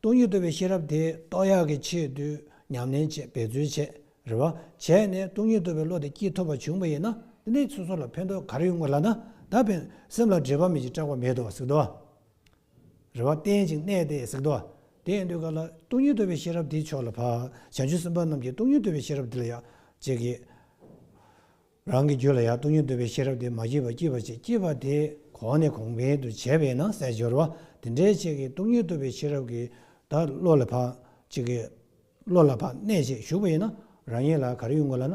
སྟོང་ཉིད་རྟོགས་པའི་ཤེས་རབ་དེ་རྟོགས་ཡག་གི་ཆེད་དུ་ཉམས་ལེན་བྱེད་འབད་རྩོལ་བྱེད་རེ་བ་བྱས་ནས་སྟོང་ཉིད་རྟོགས་པའི་བློ་དེ་སྐྱིད་ཐོབ་པ་བྱུང་བ་ཡིན་ན་འདི་འདྲའི་ཚུལ་སོགས་ལ་ཕན་ཐོགས་ག་རེ་ཡོད་ངོ་ལབ་ན་ད་ཕན་སེམས་ལ་འདྲེས་པ་མེད་ཅིང་སྐྲག་པ་མེད་དོ་གཟིགས་འགྲོ། རེ་བ་བརྟན་ཅིང་གནས་ཏེ་གཟིགས་ཏོ། དེ་ཡང་འདོད་ག་ལ། སྟོང་ཉིད་རྟོལ་བའི་ཤེས་རབ་དེའི་མཆོག་ལ་འཕགས། བྱང་ཆུབ་སེམས་དཔའ་རྣམས་ཀྱིས་སྟོང་ཉིད་རྟོལ་བའི་ཤེས་རབ་དེ་ལ་ཡང་བསྐྱེད་ཀྱི། རང་གི་རྒྱུད་ལ་ཡང་སྟོང་ཉིད་རྟོལ་བའི་ཤེས་རབ་དེ་མ་སྐྱེས་པར་སྐྱེས་པར་བྱེད་སྐྱེས་པ་དེ་གོང་ནས་གོང་འཕེལ་དུ་བྱས་པས་ན་གསལ་སྦྱོར་བ་དེ་འདྲའི་ཆེ་གེ་སྟོང་ཉིད་རྟོལ་བའི་ཤེས་རབ་ཀྱིས་བདག་བློ་ལ་འཕགས། ཅེས་ཀྱི། བློ་ལ་འཕགས་གནས་ཅེས་ཞུགས་པ་ཡིན་ན་རང་ཉིད་ལ་གར་ཡོད་ངོ་ལ་ན།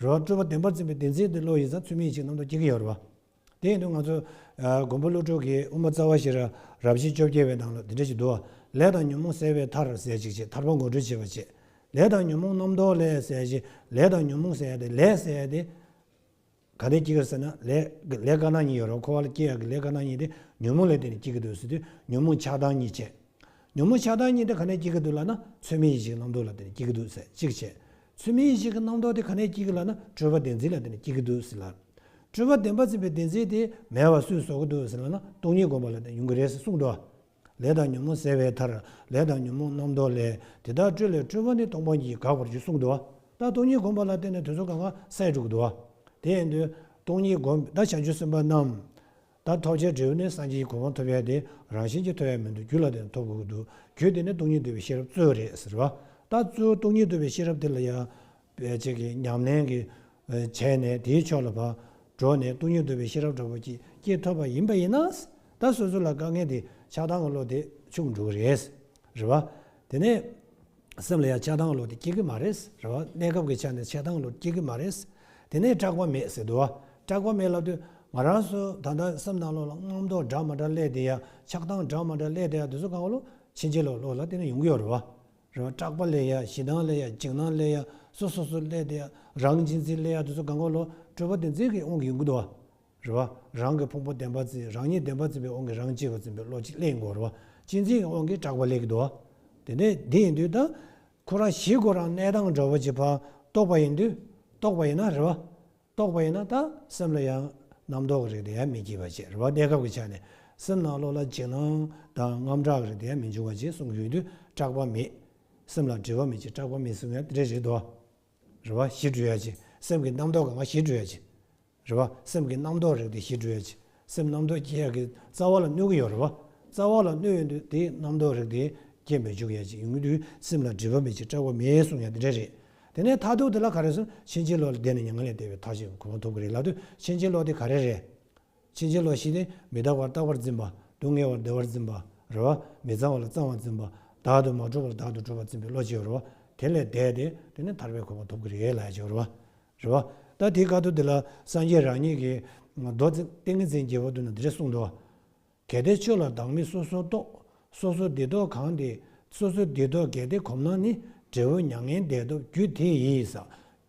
རོ། སྤྲུལ་པ་བདེན་པར་འཛིན་པའི་བདེན་འཛིན་དེ་བློ་ཡིན་ཙང་ཚུལ་མིན་ཞིག་ནམ་དུ་སྐྱེ་གི་ཡོད་རེད་པ། དེ་ཡིན་དུས་ང་ཚོ། མགོན་པོ་ཀླུ་སྒྲུབ་ཀྱིས་དབུ་མ་རྩ་བ་ཞེས་ར་རབ་བཞི་བཅོ་བརྒྱད་པའི་ནང་ལ་འདི་འདྲ་ཞིག་འདུག་ཨ། ལས་དང་ཉོན་མོངས་བསལ་བའི་མཐར་ཟད་ཅིག་ཅེས་ཐར་པ་མགོ་འཁྲུལ་བྱེད་པར་བྱེད། ལས་དང་ཉོན་མོངས་རྣམ་རྟོག་ལས་བསལ་བྱས་ལས་དང་ཉོན་མོངས་བསལ་ཏེ་ལས་བསལ་ཏེ། ག་དེས་སྐྱེ་གི་ཟེར་ན་ལས། ལས་དཀར་ནག་གཉིས་ཡོད་རེད་བ་ཁོ་བ་ལ་སྐྱེ་ཡག་གི་ལས་དཀར་ནག་གཉིས་དེ་ཉོན་མོངས་ལས་དེ་ནས་སྐྱེ་གི་འདུག་ཟེར་དུས་ཉོན་མོངས་ཆགས་སྡང་གཉིས་བྱེད། ཉོན་མོངས་ཆགས་སྡང་གཉིས་དེ་ག་ནས་སྐྱེ་གི་འདུག་ལ་ན་ཚུལ་མིན་ཞིག་ནམ་དུ་ལ་དེ་ནས་སྐྱེ་གི་འདུག་ཟེར་ཅིག་བྱེད། ཚུལ་མིན་ཞིག་གི་རྣམ་རྟོག་དེ་ག་ནས་སྐྱེ་གི་ལགས་ན་སྤྲོས་པ་བདེན་འཛིན་ལ་དེ་ནས་སྐྱེ་གི་འདུག་ཟེར་ལགས། སྤྲོས་པ་བདེན་པ་འཛིན་པའི་བདེན་འཛིན་དེ་མེད་བ་སུས་བཟོ་གི་འདུག་ཟེར་ལགས་ན་སྟོང་ཉིད་སྒོམ་པ་ལ་དེ་ཡོང་གི་རེད་ཟེར་གསུངས་འགྲོ། ལས་དང་ཉོན་མོངས་བསལ་བའི་མཐར་ལས་དང་ཉོན་མོངས་རྣམ་རྟོག་ལས་དེ་དག་སྤྲོས་ལས་སྤྲོས་པ་ནི་སྟོང་པ་ཉིད་དགག་པར་གྱུར་གསུངས་འགྲོ། ད་སྟོང་ཉིད་སྒོམ་པ་ལ་དེ་ནས་དུས་སུ་གང་གང་སད་འགྲོ་གི་འདུག། དེ་ཡིན་དུས། སྟོང་ཉིད་སྒོམ་པའི་བརྡ་བྱང་ཆུབ་སེམས་དཔའ་རྣམས། ད་ཐོག་ཆའི་འབྲས་བུ་ནི་སངས་རྒྱས་ཀྱི་གོ་འཕང་ཐོབ་ཡས་དེ་རང་བཞིན་གྱིས་ཐོབ་ཡས་མི་འདུག་རྒྱུ་ལ་བརྟེན་ཐོབ་དགོས་ཀྱི་འདུག་གྱོད་དེ་ནི་སྟོང་ཉིད་འདུལ་བའི་ཤེས་རབ་གཙོ་བོ་རེད་ཟེར་བ། ད་གཙོ་བོ་སྟོང་ཉིད་འདུལ་བའི་ཤེས་རབ་དེ་ལ་ཡང། བེད་སྤྱད་ཀྱི་ཉམས་ལེན་གྱིས་བྱས་ནས་དེའི་ཕྱོགས་ལ་བགྲོ་ནས་སྟོང་ཉིད་འདུལ་བའི་ཤེས་རབ་འདྲ་པོ་ཅིག་སྐྱེས་ཐོབ་པ་ཡིན་པ་ཡིན་ན། ད་སོ་སོ་ལ་དཀའ་ངལ་དེ་ཆགས་སྡང་གི་བློ་དེ་ཕྱུག་འགྲོ་གི་རེད། རེད་བ། དེ་ནས། སེམས་ལ་ཡང་ཆགས་སྡང་བློ་དེ་སྐྱེ་གི་མ་རེད་ཟེར་བ་གནས་སྐབས་ཀྱི་ཆ་ནས་ཆགས་སྡང་བློ་དེ་སྐྱེ་གི་མ་རེད། དེ་ནས་སྐྲག་པ་མེད་ཟེར་དུས་སྐྲག་པ་མེད་ལབ་དུས་ང་རང་སུ་ད་ལྟ་སེམས་སྡང་བློ་ལ་རྔམ་མདོག་འདྲ་མ་འདྲ་སླེབས་དེ་ཡང་ཆགས་སྡང་འདྲ་མ་འདྲ་སླེབས་དེ་ཡང་དེ་ཚོ་གང་བློ་ཕྱིན་ཆད་ལོག་ལོག་ལ་བལྟས་ན་ཡོང་གི་ཡོད་རེད། རེད་བ། སྐྲག་པ་སླེབས་ཡ་ཞེ་སྡང་སླེབས་ཡ་འཇིགས་སྣང་སླེབས་ཡ་སོ་སོ་སོ་སླེབས་དེ་ཡང་རང་གཅིག་འཛིན་སླེབས་ཡ་དེ་ཚོ་གང་བློ་སྤྲོས་པ་དེ་འཛིན་གི་འོང་གི་ཡོང་གི་འདུག་རེ་བ། རང་གི་ཕུང་པོ་བདེན་པར་བརྩིས་རང་ཉིད་བདེན་པར་བརྩིས་པའི་དབང་གིས་རང་གཅིག་པུར་འཛིན་པའི་བློ་གཅིག་ལས་ཡིན་གོ། རེ་བ། གཅིག་འཛིན་གྱི་དབང་གིས་གྲགས་པ་ལས་ཀྱི་དུ་བ། དེ་ནས་འདི་ཡིན་དུས་ད། ཁོ་རང་གཞི་ཁོ་རང་གནས་དང་འགྲོ་བ་གྱི་བར་རྟོགས་པ་ཡིན་དུས། རྟོགས་པ་ཡིན་ན་རེ་བ། རྟོགས་པ་ཡིན་ན་ད་སེམས་ལ་ཡང་རྣམ་རྟོག་གི་རིགས་དེ་ཡང་མི་སྐྱེ་བར་བྱེད་རེ་བ་གནས་སྐབས་ཀྱི་ཆ་ནས་སེམས་ནང་བློ་ལ་འཇིགས་སྣང་དང་རྔམ་སྐྲག་གི་རིགས་དེ་ཡང་མི་འབྱུང་བར་བྱེད་གསུངས་ཡོད་དུས་སྐྲག་པ་མེད། སེམས་ལ་དྲི་བ་མེད་ཅེས་སྐྲག་པ་མེད་གསུངས་ཡང་དེ་འདྲའི་རིགས་དུ་བ། རེ་བ། གཞི་གྲོལ་ཡ་གཅིག་སེམས་ཀྱི་རྣམ་རྟོག་གི་ང་གཞི་གྲོལ་ཡ་གཅིག། རེད་པ། སེམས་ཀྱི་རྣམ་རྟོག་རིག་སྟེ་བཞི་འགྲོལ་བྱེད། སེམས་རྣམ་རྟོག་སྐྱེ་ཡག་གི་རྩ་བ་ལ་གནོད་ཀྱི་ཡོད་རེད་པ། རྩ་བ་ལ་གནོད་ཡོད་འདུག་དེ་རྣམ་རྟོག་རིག་སྟེ་རྒྱས་མི་འཇུག་ཡ་གཅིག་ཡིན་དུས་སེམས་ལ་སྒྲིབ་པ་མེད་ཅིང་སྐྲག་པ་མེད་གསུངས་ཡ་དེ་འདྲ་རེད། དེ་ནས་མཐའ་ཐུག་དེ་ལ་ག་རེ་གསུངས་ཕྱིན་ཆད་ལོག་ལྡན་ནི་མྱ་ངན་ལས་འདས་པའི་མཐའ་ཞིག་གོ་མ་ཐུབ་ཀི་རེད་ལབ་དུས་ཕྱིན་ཆད་ལོག་དེ་ག་རེ་རེད། ཕྱིན་ཆད་ལོག་བཞི་སྟེ་མི་རྟག་པར་རྟག་པར་འཛིན་པ། སྡུག་བསྔལ་བར་བདེ་བར་འཛིན་པ། རེད་པ། མི་གཙང་བ་ལ་གཙང་བར་འཛིན་པ། བདག་ཏུ་མ་གྲུབ་པར་བདག་ཏུ་གྲུབ་པར་འཛིན་པའི་བློ་གཅིག་ཡོད་རེད་པ། དེ་ལས་འདས་ཏེ་དེ་ནི་ཐར་པའི་གོ་མ་ཐུབ་ཀི་རེད་ལ་ཡ་གཅིག་ཡོད་རེད་པ། རེད། བ། ད་དེའི་བཀའ་ཐུབ་དེ་ལ་སངས་རྒྱས་རང་ཉིད་ཀྱིས། མདོ། ཏིང་ངེ་འཛིན་རྒྱལ་བ་དུ་ན་འདིར་གསུངས་འགྲོ། གལ་ཏེ་ཆོས་ལ་བདག་མེད་སོ་སོར་རྟོག། སོ་སོར་བདེ་རྟོག་གང་དེ། སོ་སོར་བདེ་རྟོག་གལ་ཏེ་གོམས་ན་ནི། འབྲས་བུ་མྱ་ངན་འདས་ཐོབ་རྒྱུ་དེ་ཡིས།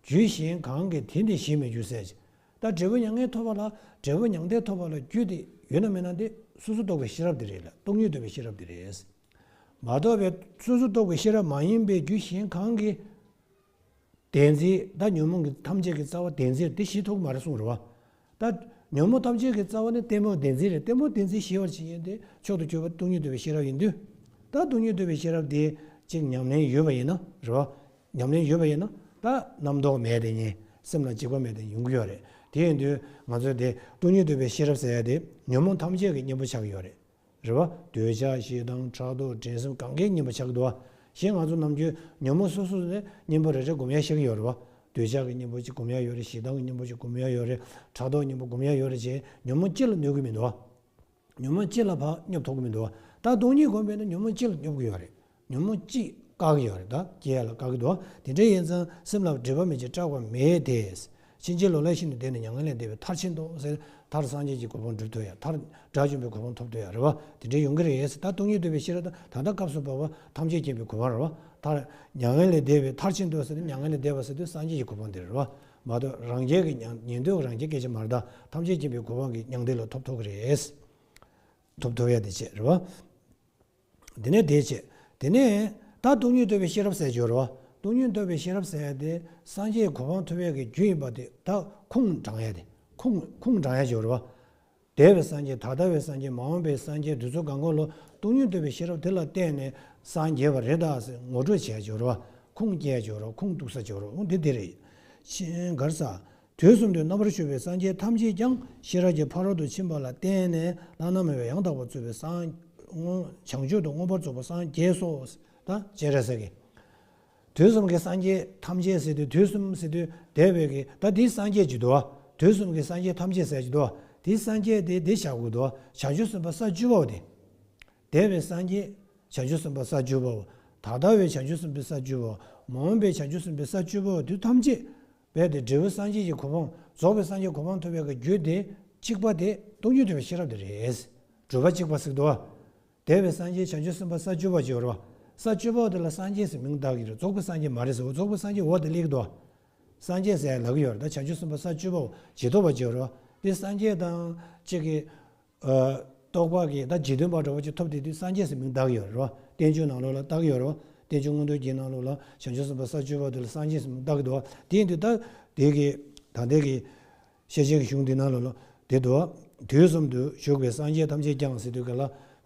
རྒྱུད་གཞན་གང་གིས་དེ་འདི་ཞིག་མི་རྒྱུ་གསལ། ད་འབྲས་བུ་མྱ་ངན་ཐོབ་པ་ལ། འབྲས་བུ་མྱང་འདས་ཐོབ་པ་ལ་རྒྱུ་དེ་ཡོད་ན་མེད་ན་དེ། སོ་སོར་རྟོག་པའི་ཤེས་རབ་དེ་རེད་ལ་སྟོང་ཉིད་རྟོགས་པའི་ཤེས་རབ་དེ་རེད། མ་རྟོགས་པའི་སོ་སོར་རྟོག་པའི་ཤེས་རབ་མ་ཡིན་པའི་རྒྱུད་གཞན་གང་གིས། བདེན་བརྫི། ད་ཉོན་མོངས་ཀྱི་ཐམས་ཅད་ཀྱི་རྩ་བ་བདེན་བརྫིར་འདི་བཞི་ཐོག་མར་གསུངས་རུང། ད་ཉོན་མོངས་ཐམས་ཅད་ཀྱི་རྩ་བ་ནི་ལྟད་མོ་བདེན་བརྫི་རེད་ལྟད་མོ་བདེན་བརྫི་ཞི་བར་བྱེད་མཁན་དེ་མཆོག་ཏུ་གྱུར་པ་སྟོང་ཉིད་འདུལ་བའི་ཤེས་རབ་ཡིན་དུས། ད་སྟོང་ཉིད་འདུལ་བའི་ཤེས་རབ་དེ་གཅིག་ཉམས་ལེན་ཡོད་པ་ཡིན་ན་རེད་བ། ཉམས་ལེན་ཡོད་པ་ཡིན་ན་ད་རྣམ་རྟོག་མེད་དེ་ཉིད་སེམས་ལ་འཇིགས་པ་མེད་དེ་ཡོང་གི་ཡོད་རེད་དེ་ཡིན་དུས་ང་ཚོས་དེ་སྟོང་ཉིད་འདུལ་བའི་ཤེས་རབ་ཟེར་ཡ་དེ་ཉོན་མོངས་ཐམས་ཅད་ཀྱི་གཉེན་པོ་ཆགས་ཀྱི་ཡོད་རེད། རེ་བ། འདོད་ཆགས་ཞེ་སྡང་ཕྲག་དོག་འགྲན་སེམས་གང་གཱའི་སྙིམ་པ་ཆགས་འདུ་བ། ཞེས་ང་ཚོ་ནམ་རྒྱུན་ཉོན་མོངས་སོ་སོ་ནས་སྙིམ་པོ་རེ་རེ་སྒོམ་ཡ་ཤེས་ཀྱི་ཡོད་རེད་བ། འདོད་ཆགས་ཀྱི་སྙིམ་པོ་གཅིག་སྒོམ་ཡ་ཡོད་རེད་ཞེ་སྡང་གི་སྙིམ་པོ་གཅིག་སྒོམ་ཡ་ཡོད་རེད་ཕྲག་དོག་སྙིམ་པོ་སྒོམ་ཡ་ཡོད་རེད་ཅེས་ཉོན་མོངས་སྤྱི་ལ་གནོད་ཀྱི་མི་འདུག་བ། ཉོན་མོངས་སྤྱི་ལ་བག་ཉོབ་ཐོག་གི་མི་འདུག་བ། ད་སྟོང་ཉིད་སྒོམ་པས་ན་ཉོན་མོངས་སྤྱི་ལ་སྙོབ་ཀྱི་ཡོད་རེད། ཉོན་མོངས་གཅིག་བཀག་ཡོད་རེད་ད་རྒྱས་ལ་བཀག་གི་འདུག་དེ་འདྲ་ཡིན་ཙང་སེམས་ལ་བགྲེས་པ་མེད་ཅིག་སྐྲག་པ་མེད་དེ། ཕྱིན་ཅི་ལོག་ལས་ཤིན་ཏུ་འདས་ནས་མྱ་ངན་ལས་འདས་པའི་མཐར་ཕྱིན་ཏོ་ཟེར། མཐར་སངས་རྒྱས་ཀྱི་གོ་འཕང་འགྲུབ་ཐུབ་ཡ་མཐར་དགྲ་བཅོམ་པའི་གོ་འཕང་ཐོབ་ཐུབ་ཡ་རེད་བ་དེ་འདྲའི་ཡོང་གི་རེད་ད་སྟོང་ཉིད་འདུལ་བའི་ཤེས་རབ་དང་ད་ལྟ་སྐབས་སུ་བབས་པ་ཐམས་ཅད་མཁྱེན་པའི་གོ་འཕང་རེད་བ་མཐར། མྱ་ངན་ལས་འདས་པའི་མཐར་ཕྱིན་ཏོ་ཟེར་མྱ་ངན་ལས་འདས་པ་ཟེར་དུས་སངས་རྒྱས་ཀྱི་གོ་འཕང་དེ་རེད་བ། མ་གཏོགས་རང་རྒྱལ་གྱི་ཉན་ཐོས་རང་རྒྱལ་སྐད་ཆ་མར་ད་ཐམས་ཅད་མཁྱེན་པའི་གོ་འཕང་གི་མྱང་འདས་ལ་ཐོབ་ཐུབ་གི་རེད། ཐོབ་ཐུབ་ཡ་དེ་བྱས་རེད་བ། དེ་ནས་དེའི་ཕྱེད། དེ་ནས། ད་སྟོང་ཉུལ་བརྟོལ་བའི་ཤེས་རབ་གསལ་སྦྱོར་རོ། སྟོང་ཉུལ་བརྟོལ་བའི་ཤེས་རབ་གསལ་ཡས་དེ་སངས་རྒྱས་གོ་འཕང་ཐོབ་ཡས་ཀྱི་རྒྱུ་ཡིན་པ་དེ་དག་ཁུངས་དྲང་ཡས་དེ། ཁུངས་དྲང་ཡས་སྦྱོར་རོ། དེ་བས་སངས་རྒྱས་ད་ལྟ་བའི་སངས་རྒྱས་མ་འོངས་པའི་སངས་རྒྱས་དུས་ཚོད་གང་གོ་ལོ་སྟོང་ཉུལ་བརྟོལ་བའི་ཤེས་རབ་དེ་ལ་བརྟེན་ནས་སངས་རྒྱས་པ་རེད་ད་ཟེར་ངོ་སྤྲོད་བྱས་སྦྱོར་རོ། ཁུངས་བསྐྱེལ་སྦྱོར་རོ་ཁུངས་གཏུགས་ས་སྦྱོར་རོ་འོ་འདི་དེ་རེད། ཕྱིན་གར་ས། དུས་གསུམ་དུ་རྣམ་པར་ཤོས་པའི་སངས་རྒྱས་ཐམས་ཅད་ཀྱང་ཤེས་རབ་ཀྱི་ཕ་རོལ་ཏུ་ཕྱིན་པ་ལ་བརྟེན་ནས་ལྷ་སྣང་མེད་པའི་ཡང་དག་པར་རྩོལ་བའི་སངས། བྱང་ཆུབ་ཏུ་མངོན་པར་རྫོགས་པ་སངས་རྒྱས་སོ། དང་བཅས། དུས་གསུམ་གྱི་སངས་རྒྱས་ཐམས་ཅད་ཟད་དུས་དུས་གསུམ་ཟད་དུས་དེ་བས་ཀྱི་ད་དེའི་སངས་རྒྱས་ཀྱི་དུ། དུས་གསུམ་གྱི་སངས་རྒྱས་ཐམས་ཅད་ཟད་ཀྱི་དུ། དེའི་སངས་རྒྱས་དེ་བདེ་བྱ་དགུའི་དུ། བྱང་ཆུབ་སེམས་དཔའ་ས་བཅུ་པའོ། དེ་བས་སངས་རྒྱས་བྱང་ཆུབ་སེམས་དཔའ་ས་བཅུ་པའོ། ད་ལྟ་བའི་བྱང་ཆུབ་སེམས་དཔའ་ས་བཅུ་པའོ། མ་འོངས་པའི་བྱང་ཆུབ་སེམས་དཔའ་ས་བཅུ་པའོ་དུས་ཐམས་ཅད་རྦད་དེ་འབྲས་བུ་སངས་རྒྱས་ཀྱི་གོ་འཕང་རྫོགས་པའི་སངས་རྒྱས་གོ་འཕང་ཐོབ་པའི་རྒྱུ་དེ་གཅིག་པ་དེ། སྟོང་ཉིད་སྒྲོལ་བའི་ཤེས་རབ་དེ་རེད། སྒྲོལ་བ་གཅིག་པ་སིག་ཏུ། དེ་བས་སངས་རྒྱས་བྱང་ཆུབ་སེམས་དཔའ་ས་བཅུ་པ་བཅུ་རོ། ས་བཅུ་པའོ་དེ་ལ་སངས་རྒྱས་ཟེར་མིང་གདགས་ཀྱི་རེད་རྫོགས་པའི་སངས་རྒྱས་མ་རེད་ཟེར་འོ་རྫོགས་པའི་སངས་རྒྱས་འོ་དེ་ལེགས་འདུག། སངས་རྒྱས་ཟེར་ཡ་ལག་གི་ཡོད་རེད་ད་བྱང་ཆུབ་སེམས་དཔའ་ས་བཅུ་པའོ་ཇི་ཐོབ་པ་བཅུ་རོ། དེ་སངས་རྒྱས་དང། གཅིག་གི། རྟོགས་པ་གིས་ད་ཇི་སྟོན་པ་འདྲ་བོ་ཅིག་ཐོབ་དེ་དུས་སངས་རྒྱས་སུ་མིང་བཏགས་ཡོད་རེད་བ། བསྟན་བཅོས་ནང་ལོགས་ལ་བཏགས་ཡོད་རེད་བ། བསྟན་བཅོས་སྔོན་ཐོན་གྱི་ནང་ལོགས་ལ་བྱང་ཆུབ་སེམས་དཔའ་ས་སྤྱོད་པ་དེ་ལ་སངས་རྒྱས་སུ་མིང་བཏགས་གི་འདུག་བ། དེ་ཡིན་དུས་ད་དེ་གི་ད་ལྟའི་གི་ཤེས་བྱའི་གི་གཞུང་འདི་ནང་ལོགས་ལ་དེ་འདུག་བ། དུས་གསུམ་དུ་བཞུགས་པའི་སངས་རྒྱས་ཐམས་ཅད་ཀྱང་སྲིད་དུ་གི་ལ་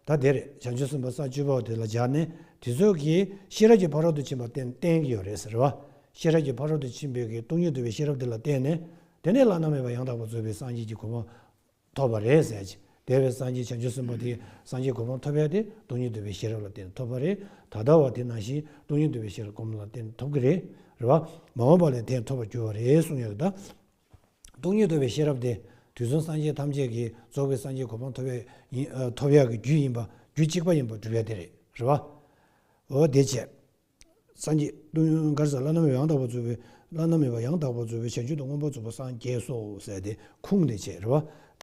ད་དེར་བྱང་ཆུབ་སེམས་དཔའ་ས་སྤྱོད་པ་དེ་ལ་སྦྱར་ནས་དེ་ཚོ་གི་ཤེས་རབ་ཀྱི་ཕ་རོལ་ཏུ་ཕྱིན་པར་བསྟན་བསྟན་གི་ཡོད་རེད་ཟེར་བ། ཤེས་རབ་ཀྱི་ཕ་རོལ་ཏུ་ཕྱིན་པའི་གི་སྟོང་ཉིད་བསྡུ་བའི་ཤེས་རབ་དེ་ལ་བརྟེན་ནས་དེ་ནས་བླ་ན་མེད་པ་ཡང་དག་པར་རྫོགས་པའི་སངས་རྒྱས་ཀྱི་གོ་འཕང་ཐོབ་པ་རེད་ཟེར། དེ་བས་སངས་རྒྱས་བྱང་ཆུབ་སེམས་དཔའ་དེས་སངས་རྒྱས་གོ་འཕང་ཐོབ་ཡག་དེ་སྟོང་ཉིད་འདུལ་བའི་ཤེས་རབ་ལ་བརྟེན་ཐོབ་པ་རེད། ད་ལྟ་བ་དེ་ནང་བཞིན་སྟོང་ཉིད་འདུལ་བའི་ཤེས་རབ་སྒོམ་ལ་བརྟེན་ཐོབ་ཀྱི་རེད། རེད་བ། མ་འོངས་པ་ལས་དེས་ཐོབ་པར་འགྱུར་བ་རེད་གསུངས་ཡོད་ད། སྟོང་ཉིད་འདུལ་བའི་ཤེས་རབ་དེ་དུས་གསུམ་སངས་རྒྱས་ཐམས་ཅད་ཀྱི་རྫོགས་པའི་སངས་རྒྱས་གོ་འཕང་ཐོབ་ཐོབ་ཡག་གི་རྒྱུ་ཡིན་པ་རྒྱུ་གཅིག་པ་ཡིན་པར་གྲུབ་ཡག་དེ་རེད། རེད་བ། འོ་དེ་བྱས། སངས་རྒྱས་སྟོང་ཉིད་མགར་ཟས་བླ་ན་མེད་པ་ཡང་དག་པར་རྫོགས་པའི་བླ་ན་མེད་པ་ཡང་དག་པར་རྫོགས་པའི་བྱང་ཆུབ་ཏུ་མངོན་པར་རྫོགས་པ་སངས་རྒྱས་སོ་ཟེར་ཏེ་ཁུངས་དེ་བྱས། རེད་བ།